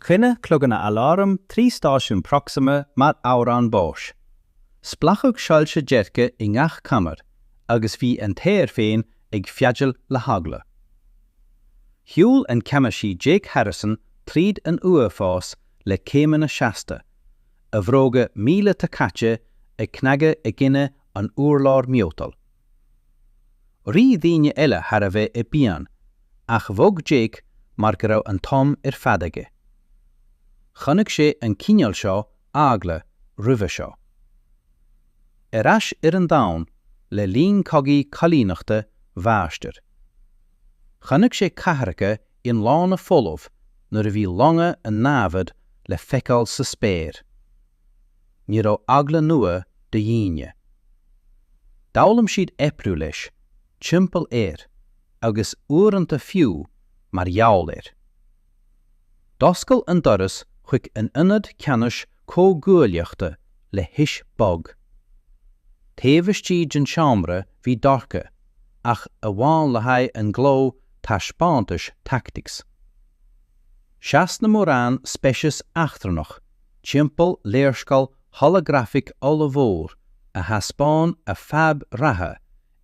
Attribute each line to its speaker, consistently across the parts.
Speaker 1: Ringeáil cloganna aláraim trí stáisiún Proxima mar amhrán báis. Splanc soilse dearga i ngach conair agus bhí an t-aer féin ag feadaíl le heagla. Shiúil an ceannasaí Jake Harrison tríd an uafás le céimeanna seasta, a bhróga míleata caite ag cnagadh i gcoinne an urláir miotail. Rith daoine eile thar a bhráid i bpian, ach bhog Jake mar go raibh an t-am ar fad aige. Chonaic sé an cineál seo eagla roimhe seo. Ar ais ar an domhan le linn cogaí coilíneachta Mharsa. Chonaic sé cathracha iomlána folamh nuair a bhí longa an námhad le feiceáil sa spéir. Ní raibh eagla nua do dhaoine. D'fhoghlaim siad oibriú leis, timpeall air, agus uaireanta fiú mar gheall air. D'oscail an doras chuig an Ionad Ceannais Comhghuaillíochta le hios bog. Taobh istigh den seomra bhí dorcha, ach amháin le haghaidh an ghló taispeántais tactics. Sheas na mórán speiceas eachtrannach timpeall léarscáil holagrafaic ollmhór a thaispeáin a bhfadhb reatha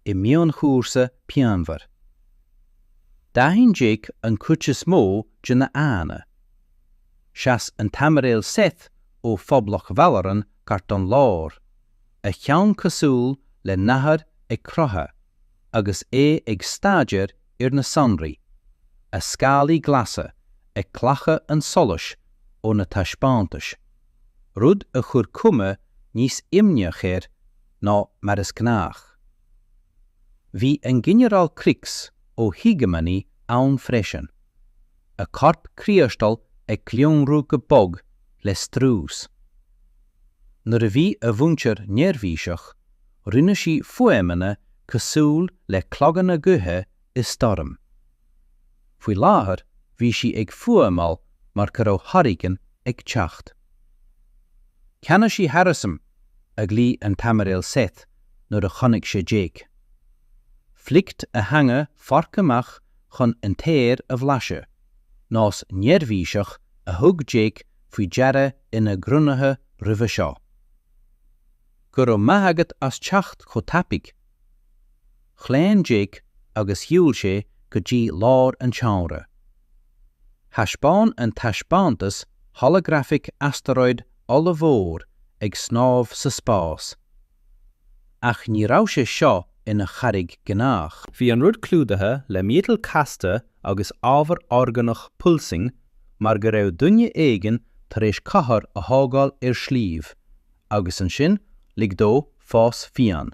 Speaker 1: i mionchúrsa pianmhar. D'aithin Jake an chuid is mó de na haghaidheanna. Sheas an t-aimiréal Seth ó Phoblacht Bhalloran gar don lár, a cheann cosúil le nathair ag croitheadh, agus é ag staidéar ar na sonraí, a scálaí glasa ag glacadh an tsolais ó na taispeántais, rud a chuir cuma níos imníche air ná mar is gnách. Bhí an Ginearál Croix ó Hegemony ann freisin. a corp criostal ag glioscarnach go bog le strús. Nuair a bhí a mhuintir neirbhíseach, rinne sí fuaimeanna cosúil le cloganna gaoithe i stoirm. Faoi láthair bhí sí ag fuaimeáil mar go raibh hurricane ag teacht. Ceannasaí Harrison, a ghlaoigh an t-aimiréal Seth nuair a chonaic sé Jake. Fliceáil a theanga forc amach chun an t-aer a bhlaiseadh, nós neirbhíseach a thug Jake faoi deara ina gcruinnithe roimhe seo. Go raibh maith agat as teacht chomh tapaidh. Chlaon Jake agus shiúil sé go dtí lár an tseomra. Thaispeáin an taispeántas holagrafaic astaróid ollmhór ag snámh sa spás. Ach ní raibh sé seo ina charraig gnách. Bhí an rud clúdaithe le miotal casta agus ábhar orgánach pulsing mar go raibh duine éigin tar éis cathair a thógáil ar shliabh agus ansin lig dó fás fiáin.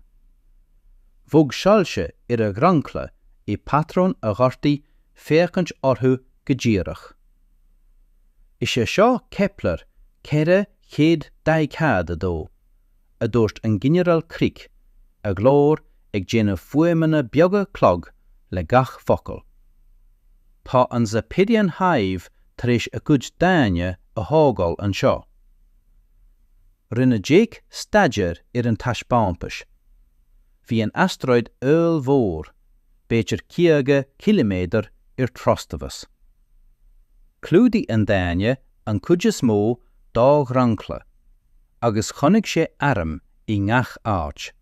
Speaker 1: Bhog soilse ar a dhromchla i bpatrún a ghortaigh féachaint orthu go díreach. Is é seo Kepler 442. a dúirt an Ginearál Crick, a ghlór ag déanamh fuaimeanna beaga clog le gach focal. Tá an Zepyrian Hive tar éis a gcuid daingne a thógáil anseo. Rinne Jake staidéar ar an taispeántais. Bhí an astaróid ollmhór, b'fhéidir caoga ciliméadar ar trastomhas. Chlúdaigh an daingne an cuid is mó dá dhromchla, Agus chonaic sé airm i ngach áit.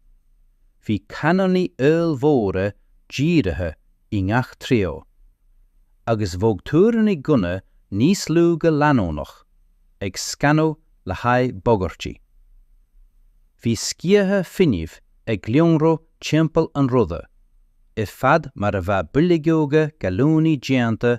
Speaker 1: Bhí canónaí ollmhóra dírithe i ngach treo. Agus bhog túiríní gunna níos lú go leanúnach, ag scanadh le haghaidh bagairtí. Bhí sciatha fuinnimh ag lonradh timpeall an ruda, ar fad mar a bheadh boilgeoga gallúnaí déanta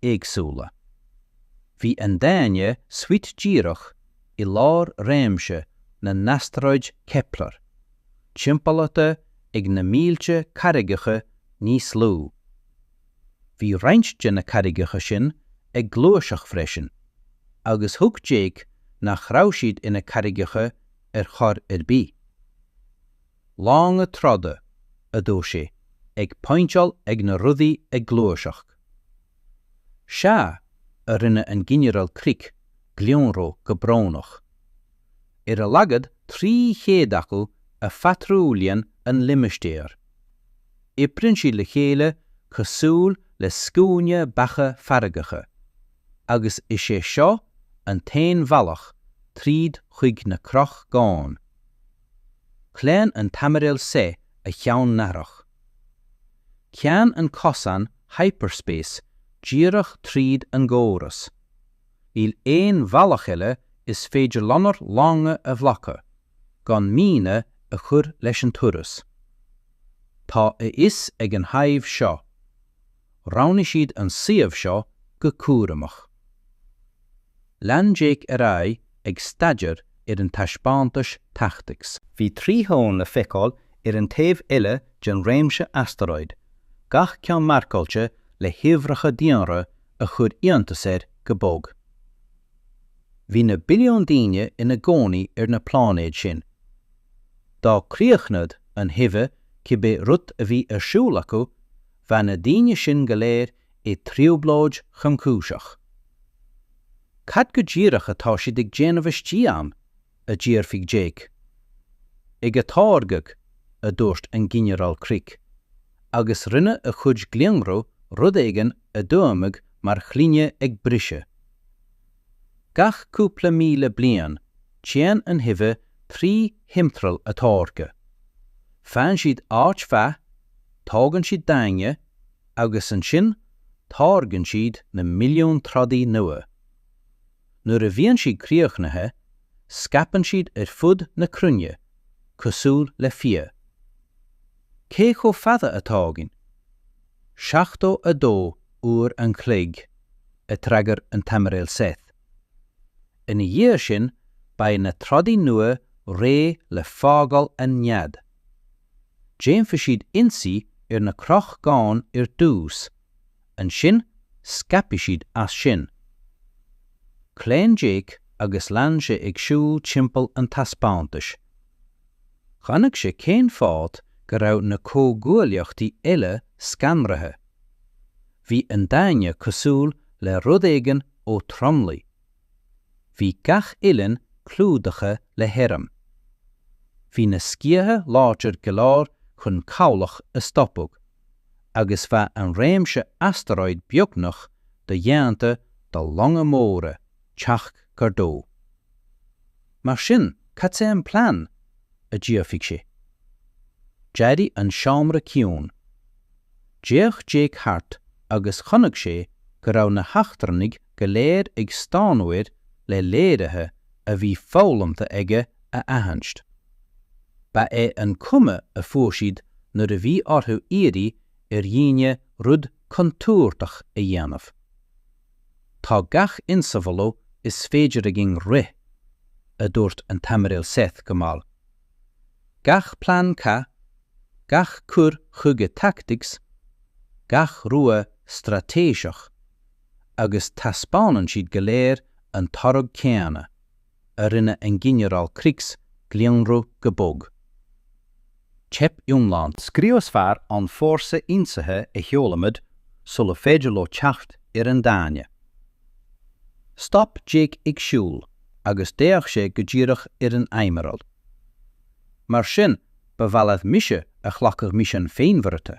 Speaker 1: éagsúla. Bhí an daingne suite díreach i lár réimse na n-astaróid Kepler, timpeallaithe ag na mílte carraigeacha níos lú. Bhí roinnt de na carraigeacha sin ag gluaiseacht freisin, agus thuig Jake nach raibh siad ina carraigeacha ar chor ar bith. 'Longa troda, a dúirt sé, 'ag pointeáil ag na rudaí ag gluaiseacht. Sea, a rinne an Ginearál Crick lonradh go brónach. 'Ar a laghad trí chéad acu a phatrúlaíonn an limistéar. Oibríonn siad le chéile cosúil le scuaine beacha feargacha, agus is é seo an t-aon bhealach tríd chuig na Croí-Dhomhain. Chlaon an tAimiréal Seth a cheann nathrach. Téann an cosán hyperspace díreach tríd an gcóras. Níl aon bhealach eile is féidir lenár longa a ghlacadh, gan míonna a chur leis an turas. Tá a fhios ag an Hive seo. Roghnaigh siad an suíomh seo go cúramach. Lean Jake ar aghaidh ag staidéar ar an taispeántais Tactics. Bhí trí dhomhan le feiceáil ar an taobh eile den réimse astaróid, gach ceann marcáilte le huimhreacha daonra a chuir iontas air go bog. Bhí na billiúin daoine ina gcónaí ar na pláinéid sin. Dá críochnad an Hive cibé rud a bhí ar siúl acu, Bheadh na daoine sin go léir i dtrioblóid thromchúiseach. Cad go díreach atá siad ag déanamh istigh ann? a d'fhiafraigh Jake. Ag atáirgeadh, a dúirt an Ginearál Crick, agus rinne a chuid glionrú rud éigin a d'fhuaimnigh mar ghloine ag briseadh. Gach cúpla míle bliain, téann an Hive trí thimthriall atáirgthe. Faigheann siad áit mhaith, tógann siad daingean, agus ansin táirgeann siad na milliúin trodaí nua. Nuair a bhíonn siad críochnaithe, scaipeann siad ar fud na cruinne, cosúil le fia. Cé chomh fada a thógann? 72 uair an chloig a d'fhreagair an tAimiréal Seth. Ina dhiaidh sin, beidh na trodaí nua réidh le fágáil an nead. Déanfaidh siad ionsaí ar na crochgáin ar dtús, ansin scaipfidh siad as sin. Chlaon Jake agus lean sé ag siúl timpeall an taispeántais. Chonaic sé cén fáth go raibh na comhghuaillíochtaí eile scanraithe. Bhí an Daingean cosúil le rud éigin ó thromluí. Bhí gach uillinn clúdaithe le hairm. Bhí na sciatha láidir go leor chun cabhlach a stopadh, agus bheadh an réimse astaróid beagnach dodhéanta do longa móra teacht gar dó. Mar sin, cad é an plean? a d'fhiafraigh sé. D'éirigh an seomra ciúin. D'fhéach Jake thart agus chonaic sé go raibh na heachtrannaigh go léir ag stánadh air le léirithe a bhí foghlamtha aige a aithint. Ba é an chuma a fuair siad nuair a bhí orthu iarraidh ar dhaoine rud contúirteach a dhéanamh. Tá gach insamhaladh is féidir againn rith, a dúirt an tAimiréal Seth go mall. Gach plean cath, gach cur chuige tactics, gach rogha straitéiseach, agus taispeánann siad go léir an toradh céanna. a rinne an Ginearál Krix glionrú go bog. Teip iomlán. Scriosfar an fórsa ionsaithe a sheolaimid sula féidir leo teacht ar an daingean. Stop Jake ag siúl agus d'fhéach sé go díreach ar an Aimiréal. Mar sin ba mhaith leat mise a ghlacadh misean féinmharaithe?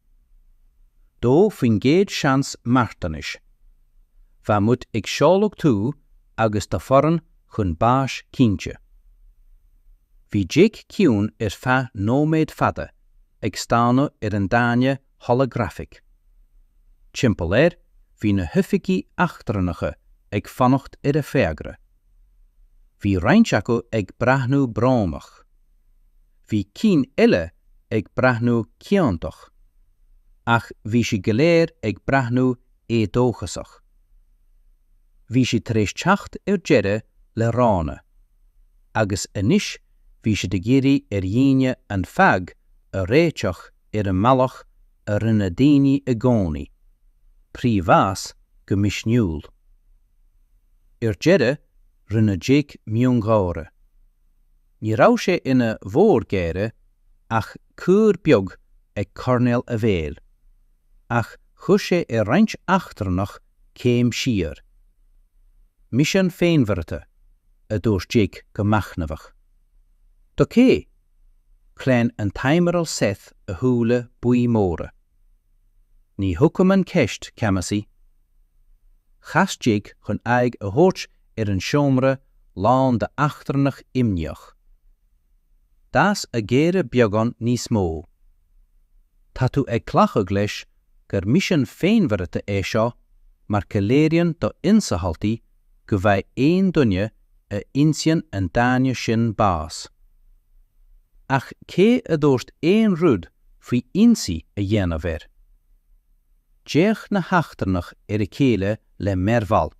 Speaker 1: dó faoin gcéad seans marthanais. Bheadh muid ag seoladh tú agus do fhoireann chun báis cinnte. Bhí Jake ciúin ar feadh nóiméad fada ag stánadh ar an daingean holagrafach. Timpeall air bhí na hoifigigh eachtrannacha ag fanacht ar a fhreagra. Bhí roinnt acu ag breathnú brónach. Bhí cinn eile ag breathnú ciontach, ach bhí siad go léir ag breathnú éadóchasach. Bhí siad tar éis teacht ar deireadh le roghanna, agus anois bhí siad ag iarraidh ar dhaoine an fhadhb a réiteach ar an mbealach a rinne daoine i gcónaí, trí bhás go misniúil. Ar deireadh, rinne Jake miongháire. Ní raibh sé ina mhórgháire ach cuar beag ag coirnéal a bhéil, ach chuir sé ar roinnt eachtrannach céim siar. Misean féinmharaithe, a dúirt Jake go machnamhach. Do cé? Chlaon an tAimiréal Seth a shúile buí móra. Ní thuigim an cheist, Ceannasaí. Chas Jake chun aghaidh a thabhairt ar an seomra lán d'eachtrannach imníoch. D'fhás a gháire beagán níos mó. Tá tú ag glacadh leis gur misean féinmharaithe é seo mar go léiríonn do ionsamhaltaí go bhfaighidh aon duine a ionsaíonn an daingean sin bás. Ach cé a dúirt aon rud faoi ionsaí a dhéanamh air? D'fhéach na heachtrannach ar a chéile le mearbhall.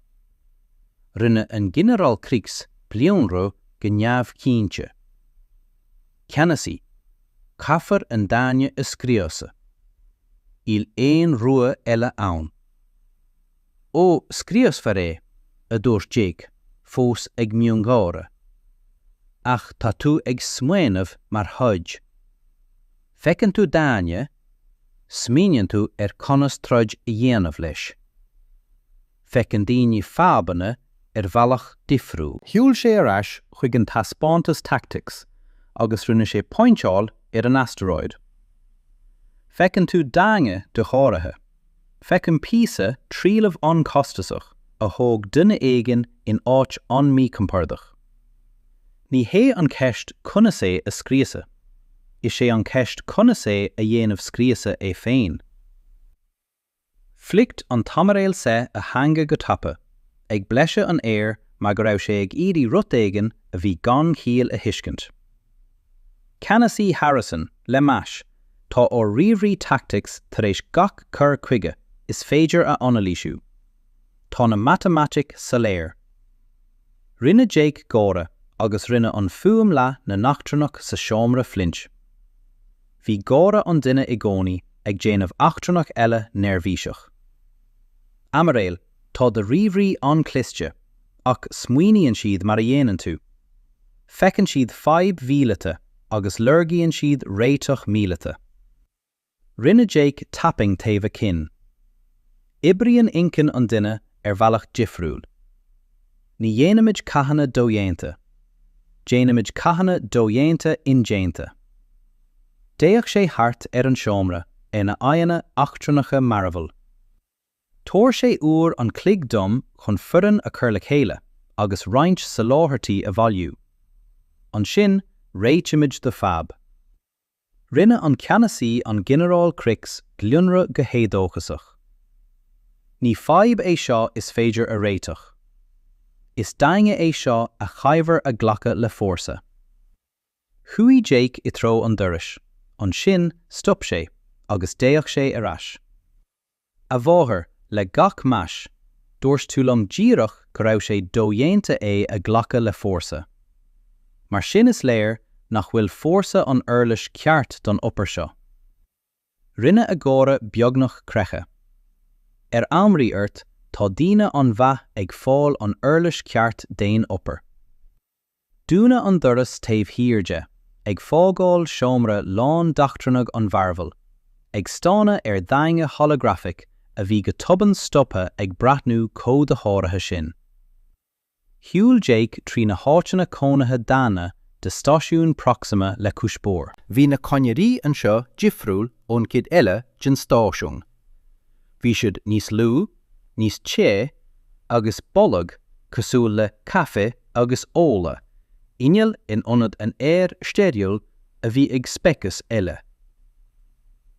Speaker 1: Rinne an Ginearál Krix glionrú go neamhchinnte. Ceannasaí, caithfear an daingean a scriosadh. Níl aon rogha eile ann. Ó, scriosfar é, a dúirt Jake, fós ag miongháire. Ach tá tú ag smaoineamh mar throid. Feiceann tú daingean, smaoiníonn tú ar conas troid a dhéanamh leis. feiceann daoine fadhbanna ar bhealach difriúil. Shiúil sé ar ais chuig an taispeántas Tactics agus rinne sé pointeáil ar an asteroid. Feiceann tú daingne dosháraithe. Feicim píosa trealaimh an-costasach a thóg duine éigin in áit an-mícompordach. Ní hé an cheist conas é a scriosadh. Is é an cheist conas é a dhéanamh scriosadh é féin. Flicked an t-aimiréal Seth a theanga go tapa, ag blaiseadh an aeir mar go raibh sé ag iarraidh rud éigin a bhí gan chiall a thuiscint. Ceannasaí Harrison, le meas, tá ár ríomhairí tactics tar éis gach cur chuige is féidir a anailísiú. Tá na matamaitic soiléir. Rinne Jake gáire agus rinne an fuaim leath na n-eachtrannach sa seomra flinch. Bhí gáire an duine i gcónaí ag déanamh eachtrannach eile neirbhíseach. Aimiréil, tá do ríomhairí an-chliste, ach smaoiníonn siad mar a dhéanann tú. Feiceann siad fadhb mhíleata agus lorgaíonn siad réiteach míleata. Rinne Jake tapping taobh a cinn. Oibríonn inchinn an duine ar bhealach difriúil. Ní dhéanaimid cathanna dodhéanta. Déanaimid cathanna dodhéanta indéanta. D'fhéach sé thart ar an seomra ar na haghaidheanna eachtrannacha mearbhaill. Tabhair sé uair an chloig dom chun foireann a chur le chéile agus roinnt soláthairtí a bhailiú. Ansin réitímid do fadhb. Rinne an ceannasaí an Ginearál Krix glionradh go héadóchasach. Ní fadhb é seo is féidir a réiteach. Is daingne é seo a chaithfear a ghlacadh le fórsa. Chuaigh Jake i dtreo an dorais, ansin stop sé agus d'fhéach sé ar ais. A mháthair, le gach meas, dúirt tú liom díreach go raibh sé dodhéanta é a ghlacadh le fórsa. Mar sin is léir nach bhfuil fórsa an uirlis cheart don obair seo. Rinne a gáire beagnach creachadh. Ar ámharaí ort tá daoine an-mhaith ag fáil an uirlis cheart d'aon obair. Dúnadh an doras taobh thiar de, ag fágáil seomra lán d'eachtrannaigh an-mhearbhaill, ag stánadh ar dhaingne holagrafach a bhí go tobann stoptha ag breathnú chomh dosháraithe sin. Shiúil Jake trí na háiteanna cónaithe daonna de stáisiún Proxima le cuspóir. Bhí na conairí anseo difriúil ón gcuid eile den stáisiún. Bhí siad níos lú, níos te, agus boladh cosúil le caife agus ola innill in ionad an aeir steiriúil a bhí ag speiceas eile.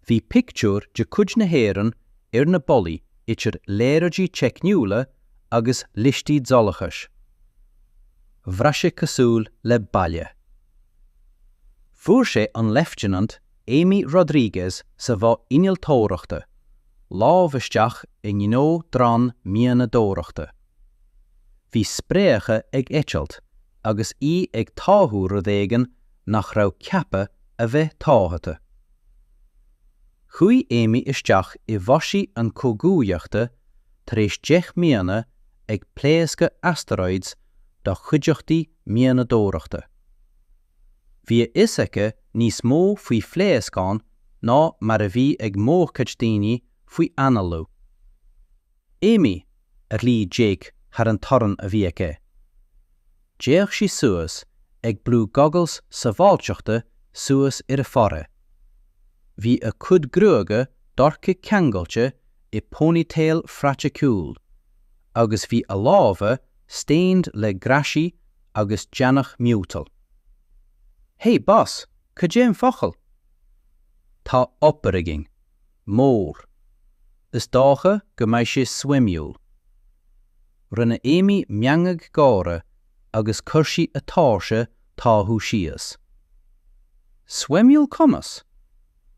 Speaker 1: Bhí pictiúir de chuid na hÉireann ar na ballaí idir léaráidí teicniúla agus liostaí dualgais. Bhraith sé cosúil le baile. Fuair sé an Leifteanant Amy Rodriguez sa Bhá Innealtóireachta, lámh isteach i ngnó drón mianadóireachta. Bhí spréacha ag eitilt agus í ag táthú rud éigin nach raibh ceaptha a bheith táthaithe. Chuaigh Amy isteach i bhfórsaí an chomhghuaillíochta tar éis deich mbliana ag pléascadh asteroids do chuideachtaí mianadóireachta. Bhí a fhios aici níos mó faoi phléascáin ná mar a bhí ag mórchuid daoine faoi análú. Amy, a ghlaoigh Jake thar an torann a bhí aici. D'fhéach sí suas, ag brú goggles sábháilteachta suas ar a forehead. Bhí a cuid gruaige dorcha ceangailte i ponytail phraiticiúil, agus bhí a lámha stained le graisí agus deannach miotail. Hé, boss, cad é an focal? Tá obair againn. Mór. Is dócha go mbeidh sé suimiúil. Rinne Amy meangadh gáire agus chuir sí a tóirse táthú síos. Suimiúil conas?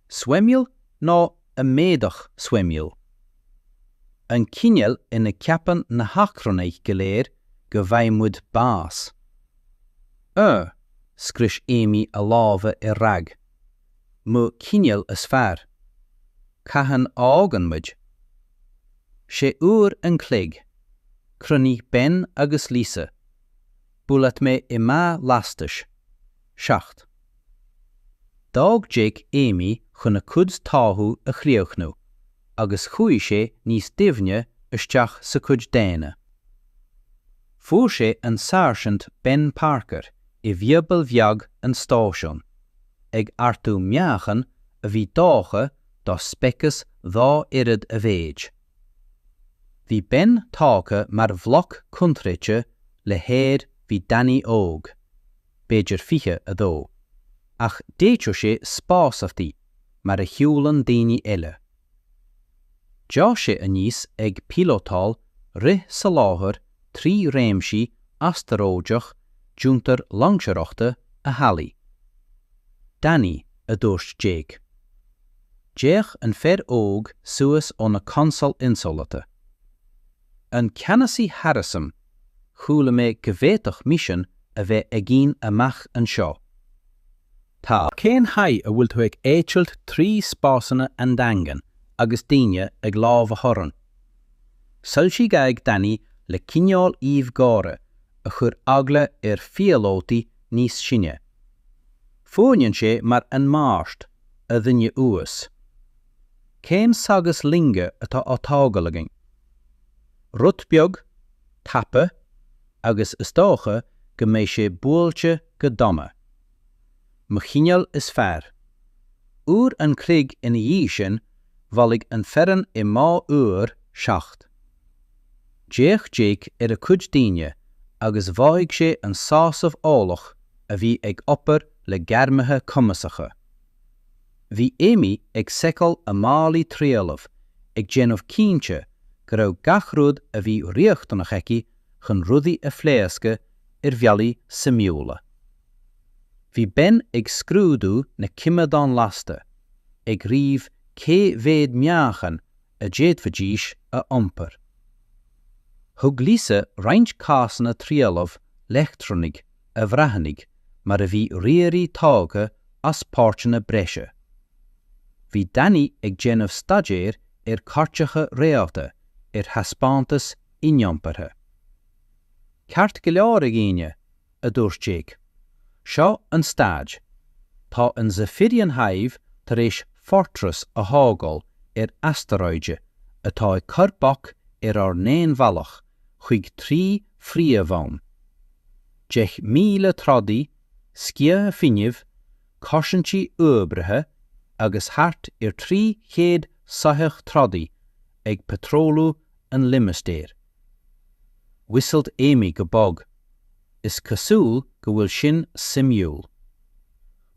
Speaker 1: Suimiúil nó amaideach suimiúil. An cineál ina gceapann na heachtrannaigh go léir go bhfaighidh muid bás. Ó, scrios Amy a lámha i rag. Mo chineál is fearr. Cathain a fhágann muid? Sé uair an chloig. Cruinnigh Ben agus Lisa. Buail leat mé i mbá lastais. 7. D'fhág Jake Amy chun a cuid táthú a chríochnú agus chuaigh sé níos doimhne isteach sa chuid daonna. Fuair sé an Sáirsint Ben Parker i bhfiobail bheag an stáisiúin, ag ardú meáchan a bhí deartha do speiceas dhá oiread a mhéid. Bhí Ben tógtha mar bhloc coincréite le haer bhí Danny óg. b'fhéidir 22, ach d'fhéadfadh sé spásárthaí mar a shiúlann daoine eile. D'fhás sé aníos ag píolótáil rith soláthair trí réimsí astaróideach d'fhiontar loingseoireachta a theaghlaigh. Danny, a dúirt Jake. D'fhéach an fear óg suas ó na consóil ionsamhalta. An Ceannasaí Harrison, Chuala mé go bhféadfadh misean a bheith againn amach anseo. Tá. Cén chaoi a bhfuil tú ag eitilt trí spásanna an-daingean agus daoine ag lámhach orainn? Soilsigh aghaidh Danny le cineál aoibh gháire a chuir eagla ar phíolótaí níos sine. Fuaimneann sé mar 'An Mháirt, a dhuine uais'. Cén saghas loinge atá á tógáil againn? Rud beag, tapa, agus is dócha go mbeidh sé buailte go dona. Mo chineál is fearr. Uair an chloig ina dhiaidh sin, bhailigh an foireann i mbá uimhir 7. D'fhéach Jake ar a chuid daoine agus mhothaigh sé an sásamh eolach a bhí ag obair le gairmithe cumasacha. Bhí Amy ag seiceáil a málaí trealaimh ag déanamh cinnte go raibh gach rud a bhí riachtanach aici chun rudaí a phléascadh ar bhealaí suimiúla. Bhí Ben ag scrúdú na coimeádán lasta, ag ríomh cé mhéad meáchain a d'fhéadfaidís a iompar. Thug Lisa roinnt cásanna trealaimh leictreonaigh a bhreathnaigh mar a bhí ríomhairí tógtha as páirteanna breise. Bhí Danny ag déanamh staidéir ar cairteacha réalta ar thaispeántas iniompartha. Ceart go leor, a dhaoine, a dúirt Jake. Seo an staid. Tá an Zephyrian Hive tar éis fortress a thógáil ar astaróide atá ag cur bac ar ár n-aon bhealach, chuig trí phríomhdhomhan, deich míle trodaí, sciatha fuinnimh, cosaintí uathoibrithe agus thart ar 300 soitheach trodaí ag patrólú an limistéir. Whistled Amy go bog. Is cosúil go bhfuil sin suimiúil.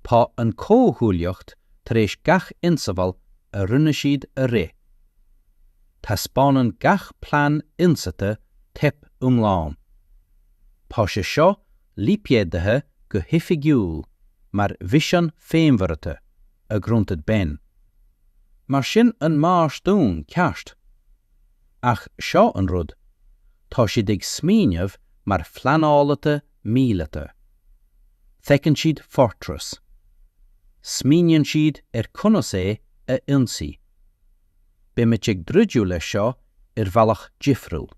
Speaker 1: Tá an comhghuaillíocht tar éis gach ionsamhail a rinne siad a rith. Taispeánann gach plean ionsaithe teip iomlán. Tá sé seo lipéadaithe go hoifigiúil mar mhisean féinmharaithe, a ghrunted Ben. Mar sin an bás dúinn, ceart? Ach seo an rud, tá siad ag smaoineamh mar phleanálaithe míleata. Feiceann siad Fortress. Smaoiníonn siad ar conas é a ionsaí. Beimid ag druideadh leis seo ar bhealach difriúil.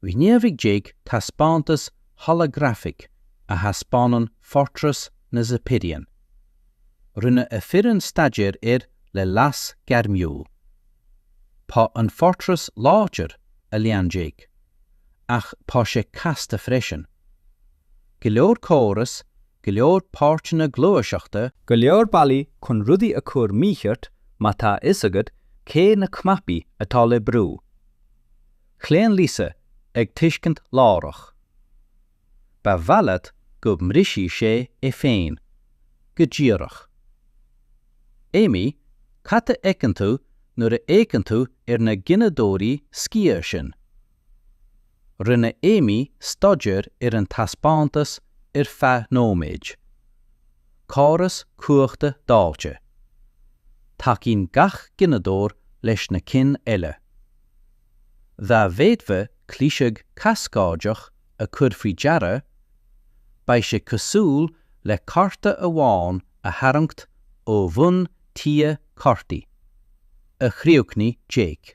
Speaker 1: Ghníomhaigh Jake taispeántas holagrafaigh a thaispeánann Fortress na Zepyrian. Rinne a fhoireann staidéar air le leas gairmiúil. Tá an Fortress láidir, a lean Jake, ach tá sé casta freisin. Go leor córas, go leor páirteanna gluaiseachta, go leor bealaí
Speaker 2: chun rudaí a chur mícheart má tá a fhios agat cé na cnaipí atá le brú. Chlaon Lisa ag tuiscint láithreach. Ba mhaith leat go mbrisfidh sé é féin. Go díreach. Amy, cad a fheiceann tú nuair a fhéachann tú ar na gineadóirí sciath sin? Rinne Amy staidéar ar an taispeántas ar feadh nóiméid. Córas cumhachta dáilte. Tacaíonn gach gineadóir leis na cinn eile. Dá bhféadfá cliseadh cascáideach a chur faoi deara, beidh sé cosúil le cárta amháin a tharraingt ó bhun tí cártaí, a chríochnaigh Jake.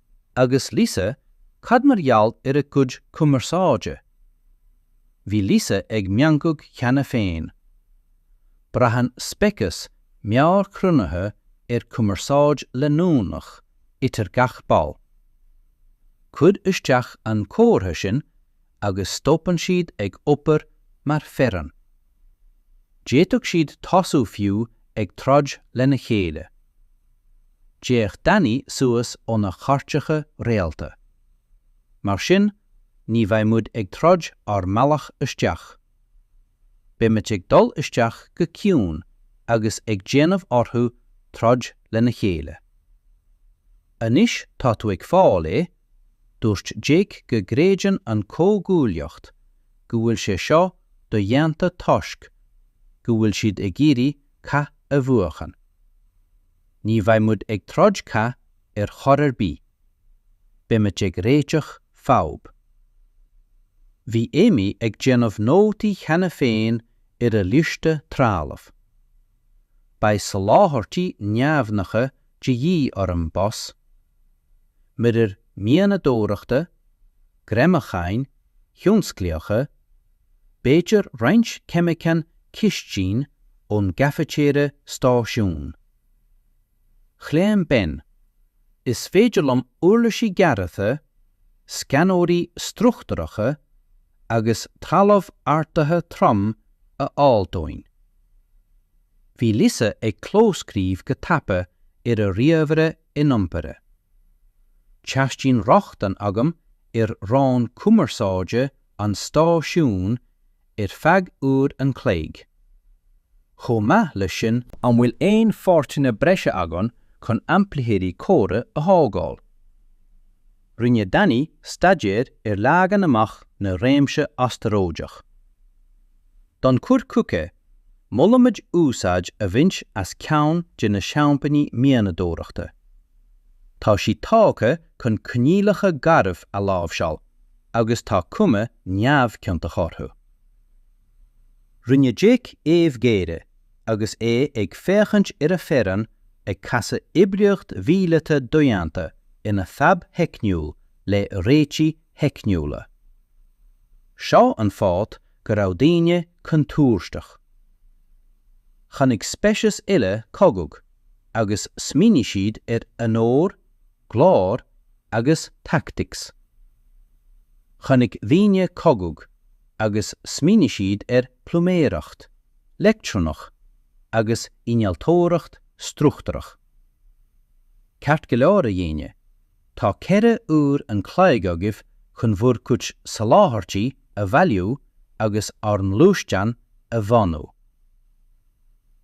Speaker 2: Agus Lisa, cad mar gheall ar a gcuid cumarsáide? Bhí Lisa ag meangadh cheana féin. Braitheann speiceas meabhairchruinnithe ar chumarsáid leanúnach idir gach ball. Cuir isteach an comhartha sin agus stopann siad ag obair mar fhoireann D'fhéadfadh siad tosú fiú ag troid lena chéile. D'fhéach Danny suas óna chairteacha réalta. Mar sin, ní bheidh muid ag troid ár mbealach isteach. Beimid ag dul isteach go ciúin agus ag déanamh orthu troid lena chéile. Anois tá tú ag fáil é, Dúirt Jake go gcreideann an Chomhghuaillíocht go bhfuil sé seo do-dhéanta toisc go bhfuil siad ag iarraidh cath a bhuachan. Ní bheidh muid ag troid cath ar chor ar bith. Beimid ag réiteach fadhb. Bhí Amy ag déanamh nótaí cheana féin ar a liosta trealamh. Beidh soláthairtí neamhghnácha de dhíth orm, boss. muirir mianadóireachta, greamacháin thionsclaíocha, b'fhéidir roinnt ceimiceán cistine ón gcaifitéire stáisiún. Chlaon Ben, Is féidir liom uirlisí gearrtha, scanóirí struchtúracha agus trealamh ardaithe trom a fháil dúinn. Bhí Lisa ag clóscríobh go tapa ar a ríomhaire iniompartha. Teastaíonn rochtain agam ar rann cumarsáide an stáisiúin ar feadh uair an chloig. Chomh maith leis sin. An bhfuil aon pháirteanna breise againn chun aimplitheoirí comhartha a thógáil? Rinne Danny staidéar ar leagan amach na réimse astaróideach. Don chur chuige Molaimid úsáid a bhaint as ceann de na seampáin mianadóireachta. Tá sí tógtha chun coinníollacha garbh a láimhseáil agus tá cuma neamhchiontach orthu. Rinne Jake aoibh gháire agus é ag féachaint ar a fhoireann ag casadh oibríocht mhíleata dodhéanta ina fhadhb theicniúil le réitigh theicniúla. Seo an fáth go raibh daoine contúirteach. Chonaic speicis eile cogadh agus smaoinigh siad ar onóir, glóir agus tactics. Chonaic daoine cogadh agus smaoinigh siad ar phluiméireacht, leictreonaic agus innealtóireacht struchtúrach.
Speaker 1: Ceart go leor a dhaoine. Tá ceithre uair an chloig agaibh chun bhur gcuid soláthairtí a bhailiú agus ár ngluaisteán a mhodhnú.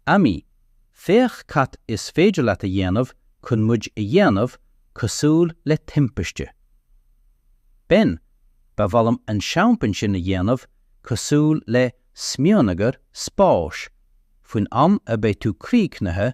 Speaker 1: Amy, féach cad is féidir leat a dhéanamh chun muid a dhéanamh cosúil le timpiste. Ben, ba mhaith liom an seampán sin a dhéanamh cosúil le smionagar spáis faoin am a bheidh tú críochnaithe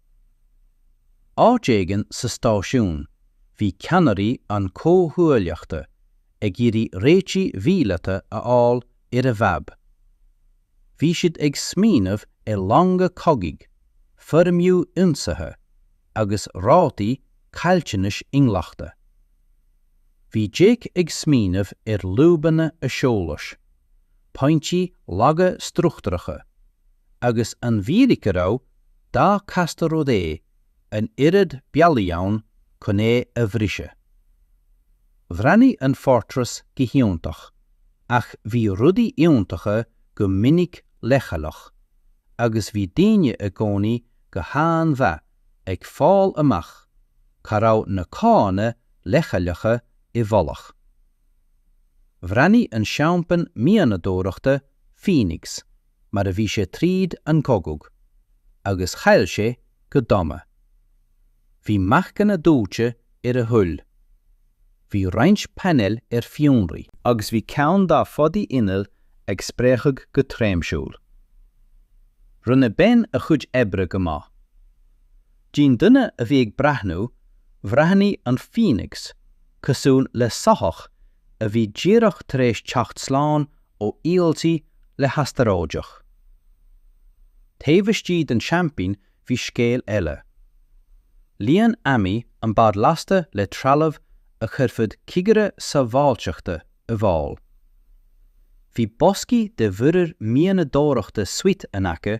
Speaker 1: Áit éigin sa stáisiún, bhí ceannairí an chomhghuaillíochta ag iarraidh réitigh mhíleata a fháil ar a bhfadhb. Bhí siad ag smaoineamh ar longa cogaidh, foirmiú ionsaithe, agus rátaí caillteanais inghlachta. Bhí Jake ag smaoineamh ar lúbanna aiseolais, pointí laga struchtúracha, agus an bhfíric a raibh dá casta rud é, an oiread bealaí ann chun é a bhriseadh. Bhreathnaigh an Fortress go hiontach, ach bhí rudaí iontacha go minic leochaileach, agus bhí daoine i gcónaí go han-mhaith ag fáil amach cá raibh na cána leochaileacha i bhfolach. Bhreathnaigh an seampan mianadóireachta Phoenix mar a bhí sé tríd an gcogadh, agus chaill sé go dona. Bhí marcanna dóite ar a hull. Bhí roinnt painéil ar fionraí. Agus bhí ceann dá phodaí innill ag spréachadh go tréimhsiúil. Rinne Ben a chuid oibre go maith. D'aon duine a bhí ag breathnú, bhreathnaigh an Phoenix cosúil le soitheach a bhí díreach tar éis teacht slán ó íoldí le hastaróideach. Taobh istigh den seaimpín bhí scéal eile. Líon Amy an bád lasta le trealamh a chuirfeadh cigire sábháilteachta i bhfál. Bhí boscaí de mhuirir mianadóireachta suite in aice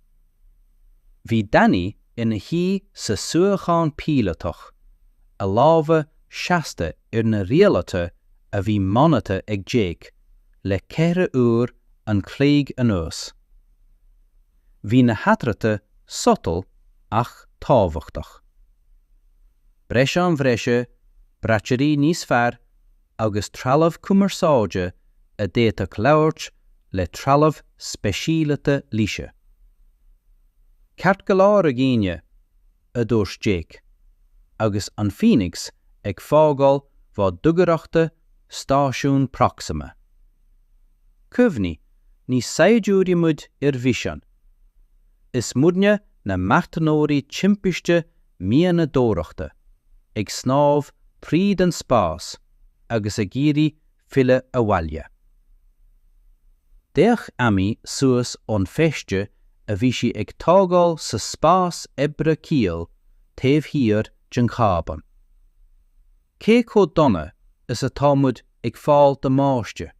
Speaker 1: Bhí Danny ina shuí sa suíochán píolótach, a lámha seasta ar na rialuithe a bhí modhnaithe ag Jake le ceithre uair an chloig anuas. Bhí na hathruithe subtle ach tábhachtach. Breiseáin bhreise, braiteoirí níos fearr, agus trealamh cumarsáide a d'fhéadfadh labhairt le trealamh speisialaithe Laoise. Ceart go leor a dhaoine, a dúirt Jake, agus an Phoenix ag fágáil bhá dugaireachta stáisiún Proxima. Cuimhnigh, ní saighdiúirí muid ar mhisean. Is muidne na marthanóirí timpiste mianadóireachta, ag snámh tríd an spás agus ag iarraidh filleadh abhaile. D'fhéach Amy suas ón feiste a bhí sí ag tógáil sa spás oibre caol taobh thiar den chábán. Cé chomh dona is atá muid ag fáil damáiste?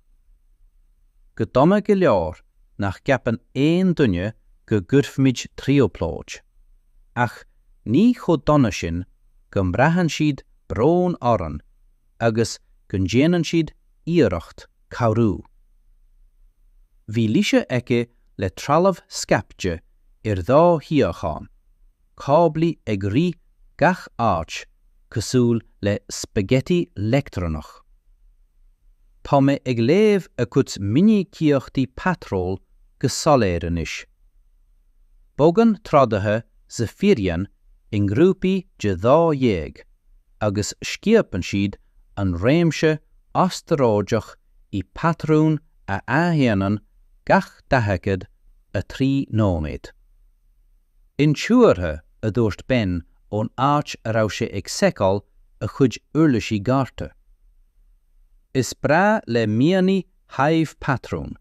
Speaker 1: Go dona go leor nach gceapann aon duine go gcuirfimid trioblóid, ach ní chomh dona sin go mbraitheann siad brón orainn agus go ndéanann siad iarracht cabhrú. Bhí Laoise aici le trealamh scaipte ar dhá shuíochán. cáblaí ag rith gach áit cosúil le spaghetti leictreonach. Tá mé ag léamh a gcuid minicíochtaí patról go soiléir anois. Bogann trodaithe Zephyrian i ngrúpaí de dhá dhéag agus scuabann siad an réimse astaróideach i bpatrún a athdhéanann gach 43 nóiméad. Intuartha, a dúirt Ben ón áit a raibh sé ag seiceáil a chuid uirlisí gearrtha. Is breá le meonta Hive patrúin,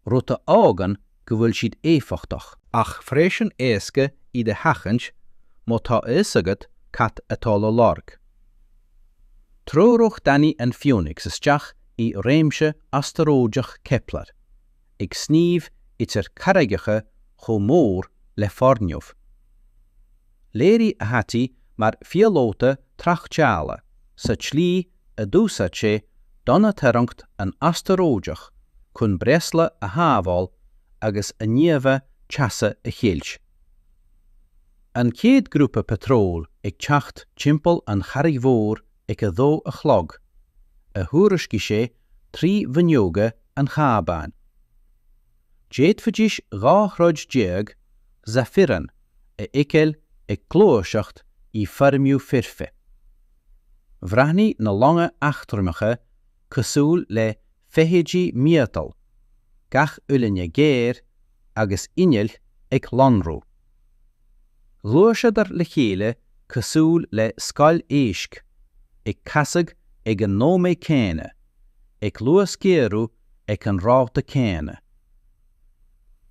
Speaker 1: rud a fhágann go bhfuil siad éifeachtach, ach freisin éasca iad a sheachaint má tá a fhios agat cad atá le lorg. Threoraigh Danny an Phoenix isteach i réimse astaróideach Kepler. ag sníomh idir carraigeacha chomh mór le foirgneamh. Léirigh a thaithí mar phíolóta tráchtála sa tslí a d'úsáid sé domhantarraingt an astaróideach chun breosla a shábháil agus a n-íomhá teasa a cheilt. An chéad ghrúpa patróil ag teacht timpeall an charraig mhór ag a dó a chlog, a thuairiscigh sé trí fhuinneoga an chábáin. D'fhéadfaidís dhá throid déag Zephyrian a fheiceáil ag gluaiseacht i bhfoirmiú foirfe. Bhreathnaigh na longa eachtraimeacha cosúil le feithidí miotail, gach uillinn géar, agus innill ag lonrú. Ghluaiseadar le chéile cosúil le scoil éisc, ag casadh ag an nóiméad céanna, ag luasghéarú ag an ráta céanna.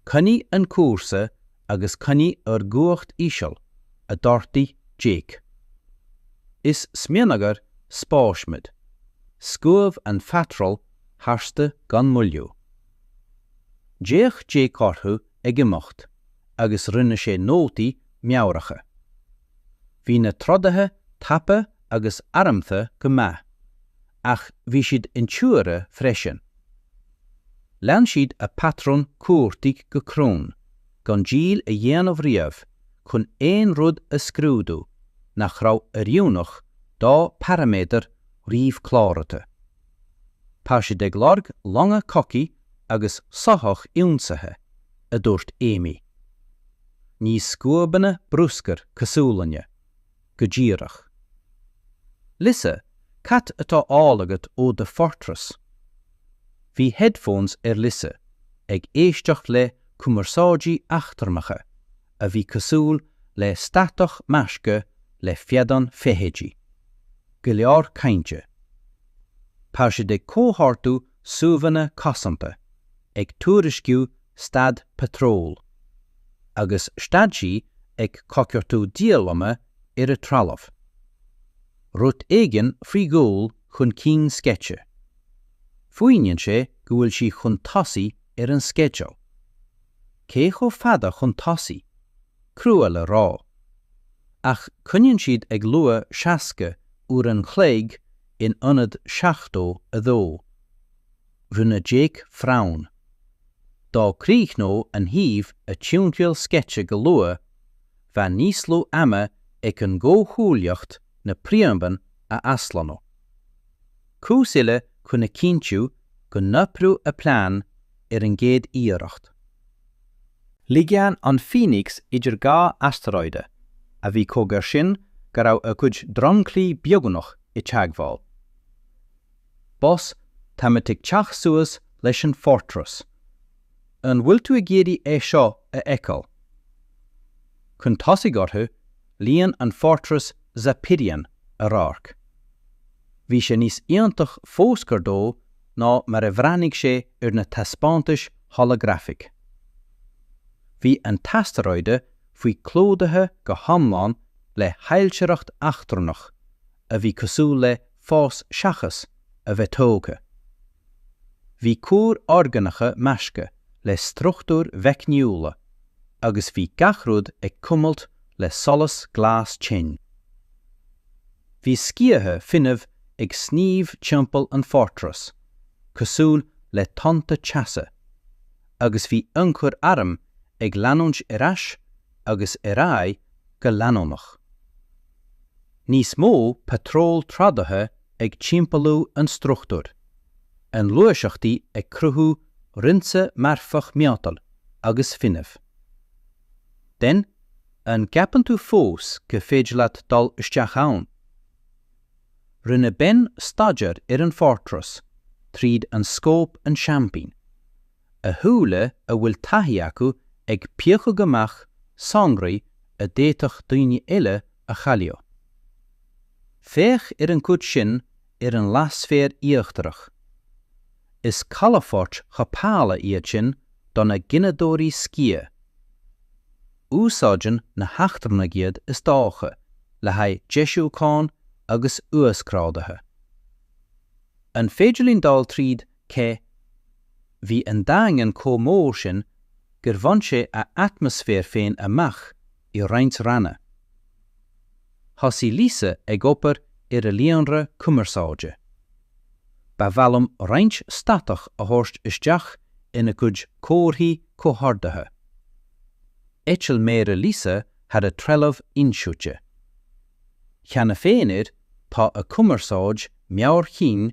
Speaker 1: Coinnigh an cúrsa agus coinnigh ár gcumhacht íseal, a d'ordaigh Jake. Is smionagar spáis muid. Scuabh an patról tharstu gan moilliú. D'fhéach Jake orthu ag imeacht agus rinne sé nótaí meabhracha. Bhí na trodaithe tapa agus armtha go maith, ach bhí siad intuartha freisin. Lean siad a bpatrún cuartaigh go cruinn, gan diall a dhéanamh riamh chun aon rud a scrúdú nach raibh oiriúnach dá bparaiméadair ríomhchláraithe. Tá siad ag lorg longa cogaidh agus soithí ionsaithe, a dúirt Amy. Ní scuabanna bruscair cosúil linne, go díreach. Lisa, cad atá á fháil agat ón Fortress? Bhí headphones ar Lisa, ag éisteacht le cumarsáidí eachtrannacha a bhí cosúil le statach measctha le feadán feithidí. Go leor cainte. Tá siad ag comhordú suíomhanna cosanta, ag tuairisciú stádas patróil. Agus stad sí ag coigeartú diaileanna ar a trealamh. Rud éigin faoi dhul chun cinn sceite. Fuaimníonn sé go bhfuil sí chun tosaigh ar an sceideal. cé chomh fada chun tosaigh, crua le rá. Ach coinníonn siad ag lua 60 uair an chloig in ionad 72. Rinne Jake frown. Dá gcríochnódh an Hive a timthriall sceite go luath, bheadh níos lú ama ag an gcomhghuaillíocht na príomhdhomhain a aslonnú. Cúis eile chun a chinntiú go n-oibreodh a plean ar an gcéad iarracht. Shleamhnaigh an Phoenix idir dhá astaróide, a bhí chomh gar sin go raibh a gcuid dromchlaí beagnach i teagmháil. Boss, tá muid ag teacht suas leis an Fortress. An bhfuil tú ag iarraidh é seo a fheiceáil? Chun tosaigh orthu, líon an Fortress Zapirian a radharc. Bhí sé níos iontaí fós gar dó ná mar a bhreathnaigh sé ar na taispeántais holagrafacha. Bhí an t-astaróide féin clúdaithe go hiomlán le hailtireacht eachtrannach a bhí cosúil le fás seachas a bheith tógtha. Bhí cuair orgánacha measctha le struchtúir mheicniúla agus bhí gach rud ag cuimilt le solas glas tinn. Bhí sciatha fuinnimh ag sníomh timpeall an fortress, cosúil le tonnta teasa, agus bhí ionchur airm ag leanúint ar ais agus ar aghaidh go leanúnach. Níos mó patról trádaithe ag timpeallú an struchtúir, a ngluaiseachtaí ag cruthú rince marfach miotail agus fuinnimh. Den. An gceapann tú fós gur féidir leat dul isteach ann? Rinne Ben staidéar ar an Fortress tríd an scóp an tseaimpín, a shúile a bhfuil taithí acu ag piocadh amach sonraí a d'fhéadfadh daoine eile a chailleadh. Féach ar an gcuid sin ar an leathsféar íochtarach. Is calafoirt chothabhála iad sin do na gineadóirí sciath. Úsáideann na heachtrannaigh iad is dócha le haghaidh deisiúcháin agus uasghrádaithe. An féidir linn dul tríd cé, Bhí an Daingean chomh mór sin gur bhain sé a atmaisféar féin amach i roinnt ranna. Thosaigh Lisa ag obair ar a líonra cumarsáide. Ba mhaith liom roinnt statach a thabhairt isteach ina gcuid comharthaí comhordaithe. D'eitil méara Lisa thar a trealamh insuite. Cheana féin air, tá a cumarsáid meabhair-chinn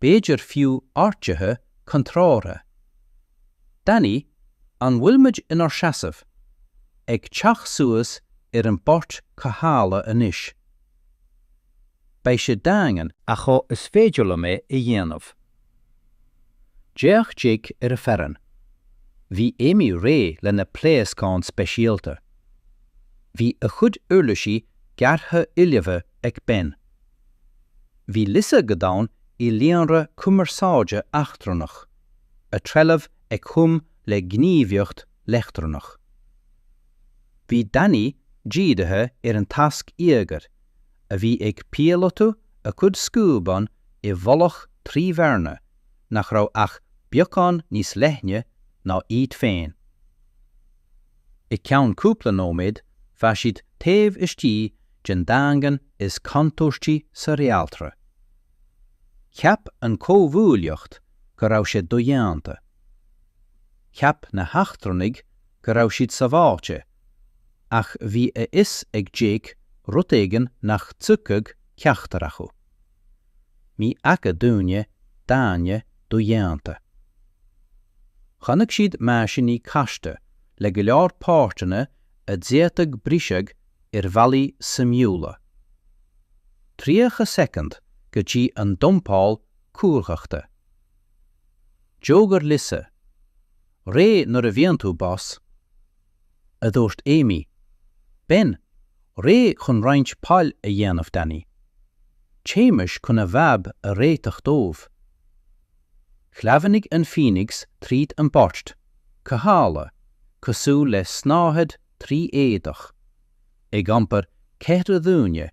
Speaker 1: b'fhéidir fiú áirtithe contrártha. Danny, an bhfuil muid inár seasamh? ag teacht suas ar an bport cothabhála anois. Beidh sé daingean. ach is féidir liom é a dhéanamh. D'fhéach Jake ar a fhoireann. Bhí Amy réidh lena pléascán speisialta. Bhí a chuid uirlisí gearrtha ullamh ag Ben. Bhí Lisa go domhain i líonra cumarsáide eachtrannach, a trealamh ag hum le gníomhaíocht leictreonach. Bhí Danny dírithe ar an tasc íogair, a bhí ag píolotú a chuid scuabán i bhfolach trí bhearna nach raibh ach beagán níos leithne ná iad féin. I gceann cúpla nóiméad bheadh siad taobh istigh den daingean is contúirtí sa réaltra. Cheap an chomhghuaillíocht go raibh sé dodhéanta. Cheap na heachtrannaigh go raibh siad sábháilte, ach bhí a fhios ag Jake rud éigin nach dtuigfeadh ceachtar acu. ní fhaca duine daingne dodhéanta. Chonaic siad meaisíní casta le go leor páirteanna a d'fhéadfadh briseadh ar bhealaí suimiúla. 30 soicind go dtí an dumpáil cumhachta. D'fhógair Lisa, réidh nuair a bhíonn tú, boss! a dúirt Amy. Ben, réidh chun roinnt poill a dhéanamh, Danny? Téimis chun a bhfadhb a réiteach dóibh. Shleamhnaigh an Phoenix tríd an bport cothabhála, cosúil le snáthaid trí éadach, ag iompar ceithre dhuine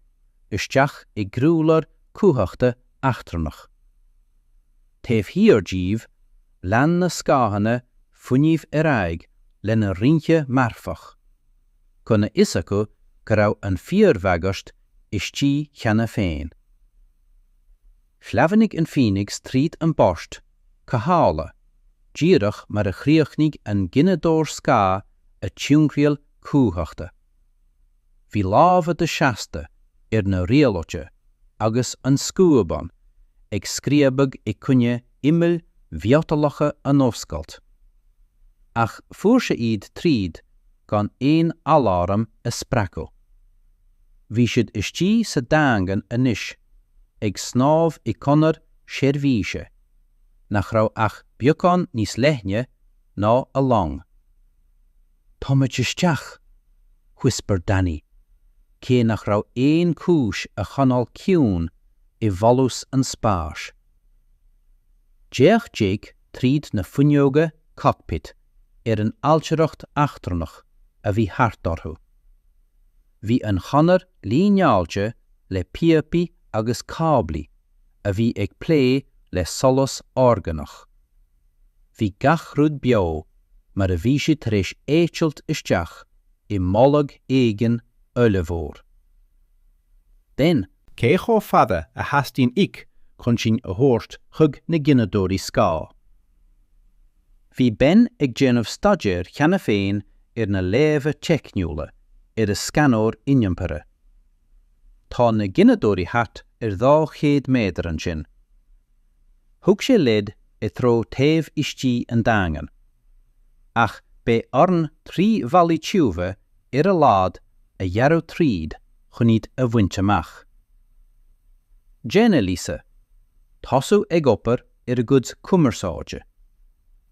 Speaker 1: isteach i gcroílár cumhachta eachtrannach. Taobh thiar díobh, Lean na scáthanna fuinnimh ar aghaidh lena rince marfach, gan a fhios acu go raibh an fíorbhagairt istigh cheana féin. Shleamhnaigh an Phoenix tríd an bport cothabhála, díreach mar a chríochnaigh an gineadóir scáth a timthriall cumhachta. Bhí lámha Jake seasta ar na rialuithe agus an scuabán ag scríobadh i gcoinne imill mhiotalacha an oscailt. Ach fuair sé iad tríd gan aon aláram a spreagadh. Bhí siad istigh sa Daingean anois, ag snámh i gconair seirbhíse nach raibh ach beagán níos leithne ná a long. 'Táimid isteach! whispered Danny, cé nach raibh aon chúis a choinneáil ciúin i bhfolús an spáis. D'fhéach Jake tríd na fuinneoga 'cockpit' ar an ailtireacht eachtrannach a bhí thart orthu. Bhí an chonair líneáilte le píopaí agus cáblaí a bhí ag plé le solas orgánach. Bhí gach rud beo mar a bhí siad tar éis eitilt isteach i mbolg éigin ollmhór. Ben. Cé chomh fada a theastaíonn uait chun sinn a thabhairt chuig na gineadóirí scáth? Bhí Ben ag déanamh staidéir cheana féin ar na léamha teicniúla ar a scanóir iniompartha. Tá na gineadóirí thart ar 200 méadar ansin, Thug sé leid i dtreo taobh istigh an Daingean. Ach beidh orainn trí bhallaí tiubha ar a laghad a ghearradh tríd chun iad a bhaint amach. Déan é. Lisa, tosaigh ag obair ar a gcuid cumarsáide.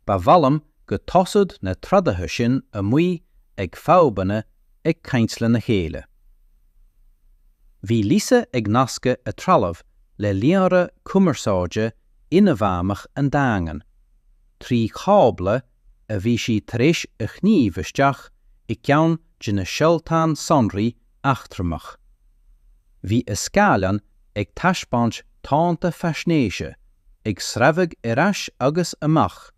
Speaker 1: Ba mhaith liom go dtosódh na trodaithe sin amuigh ag fadhbanna ag caint lena chéile. Bhí Lisa ag nascadh a trealamh le líonra cumarsáide inmheánach an Daingin, trí chábla a bhí sí tar éis a shníomh isteach i gceann de na seoltáin sonraí eachtrannacha. Bhí a scáileán ag taispeáint tonnta faisnéise ag sreabhadh ar ais agus amach,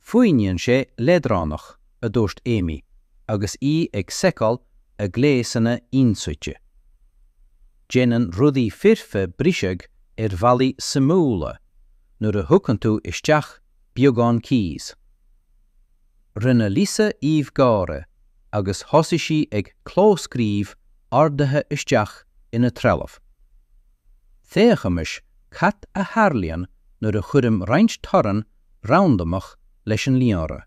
Speaker 1: Fuaimníonn sé leadránach, a dúirt Amy agus í ag seiceáil a gléasanna ionsuite. Déanann rudaí foirfe briseadh ar bhealaí suimiúla nuair a thugann tú isteach beagán chaos. Rinne Lisa aoibh gáire agus thosaigh sí ag clóscríobh orduithe isteach ina trealamh. Féachaimis cad a tharlaíonn nuair a chuirim roinnt torann randamach leis an líonra.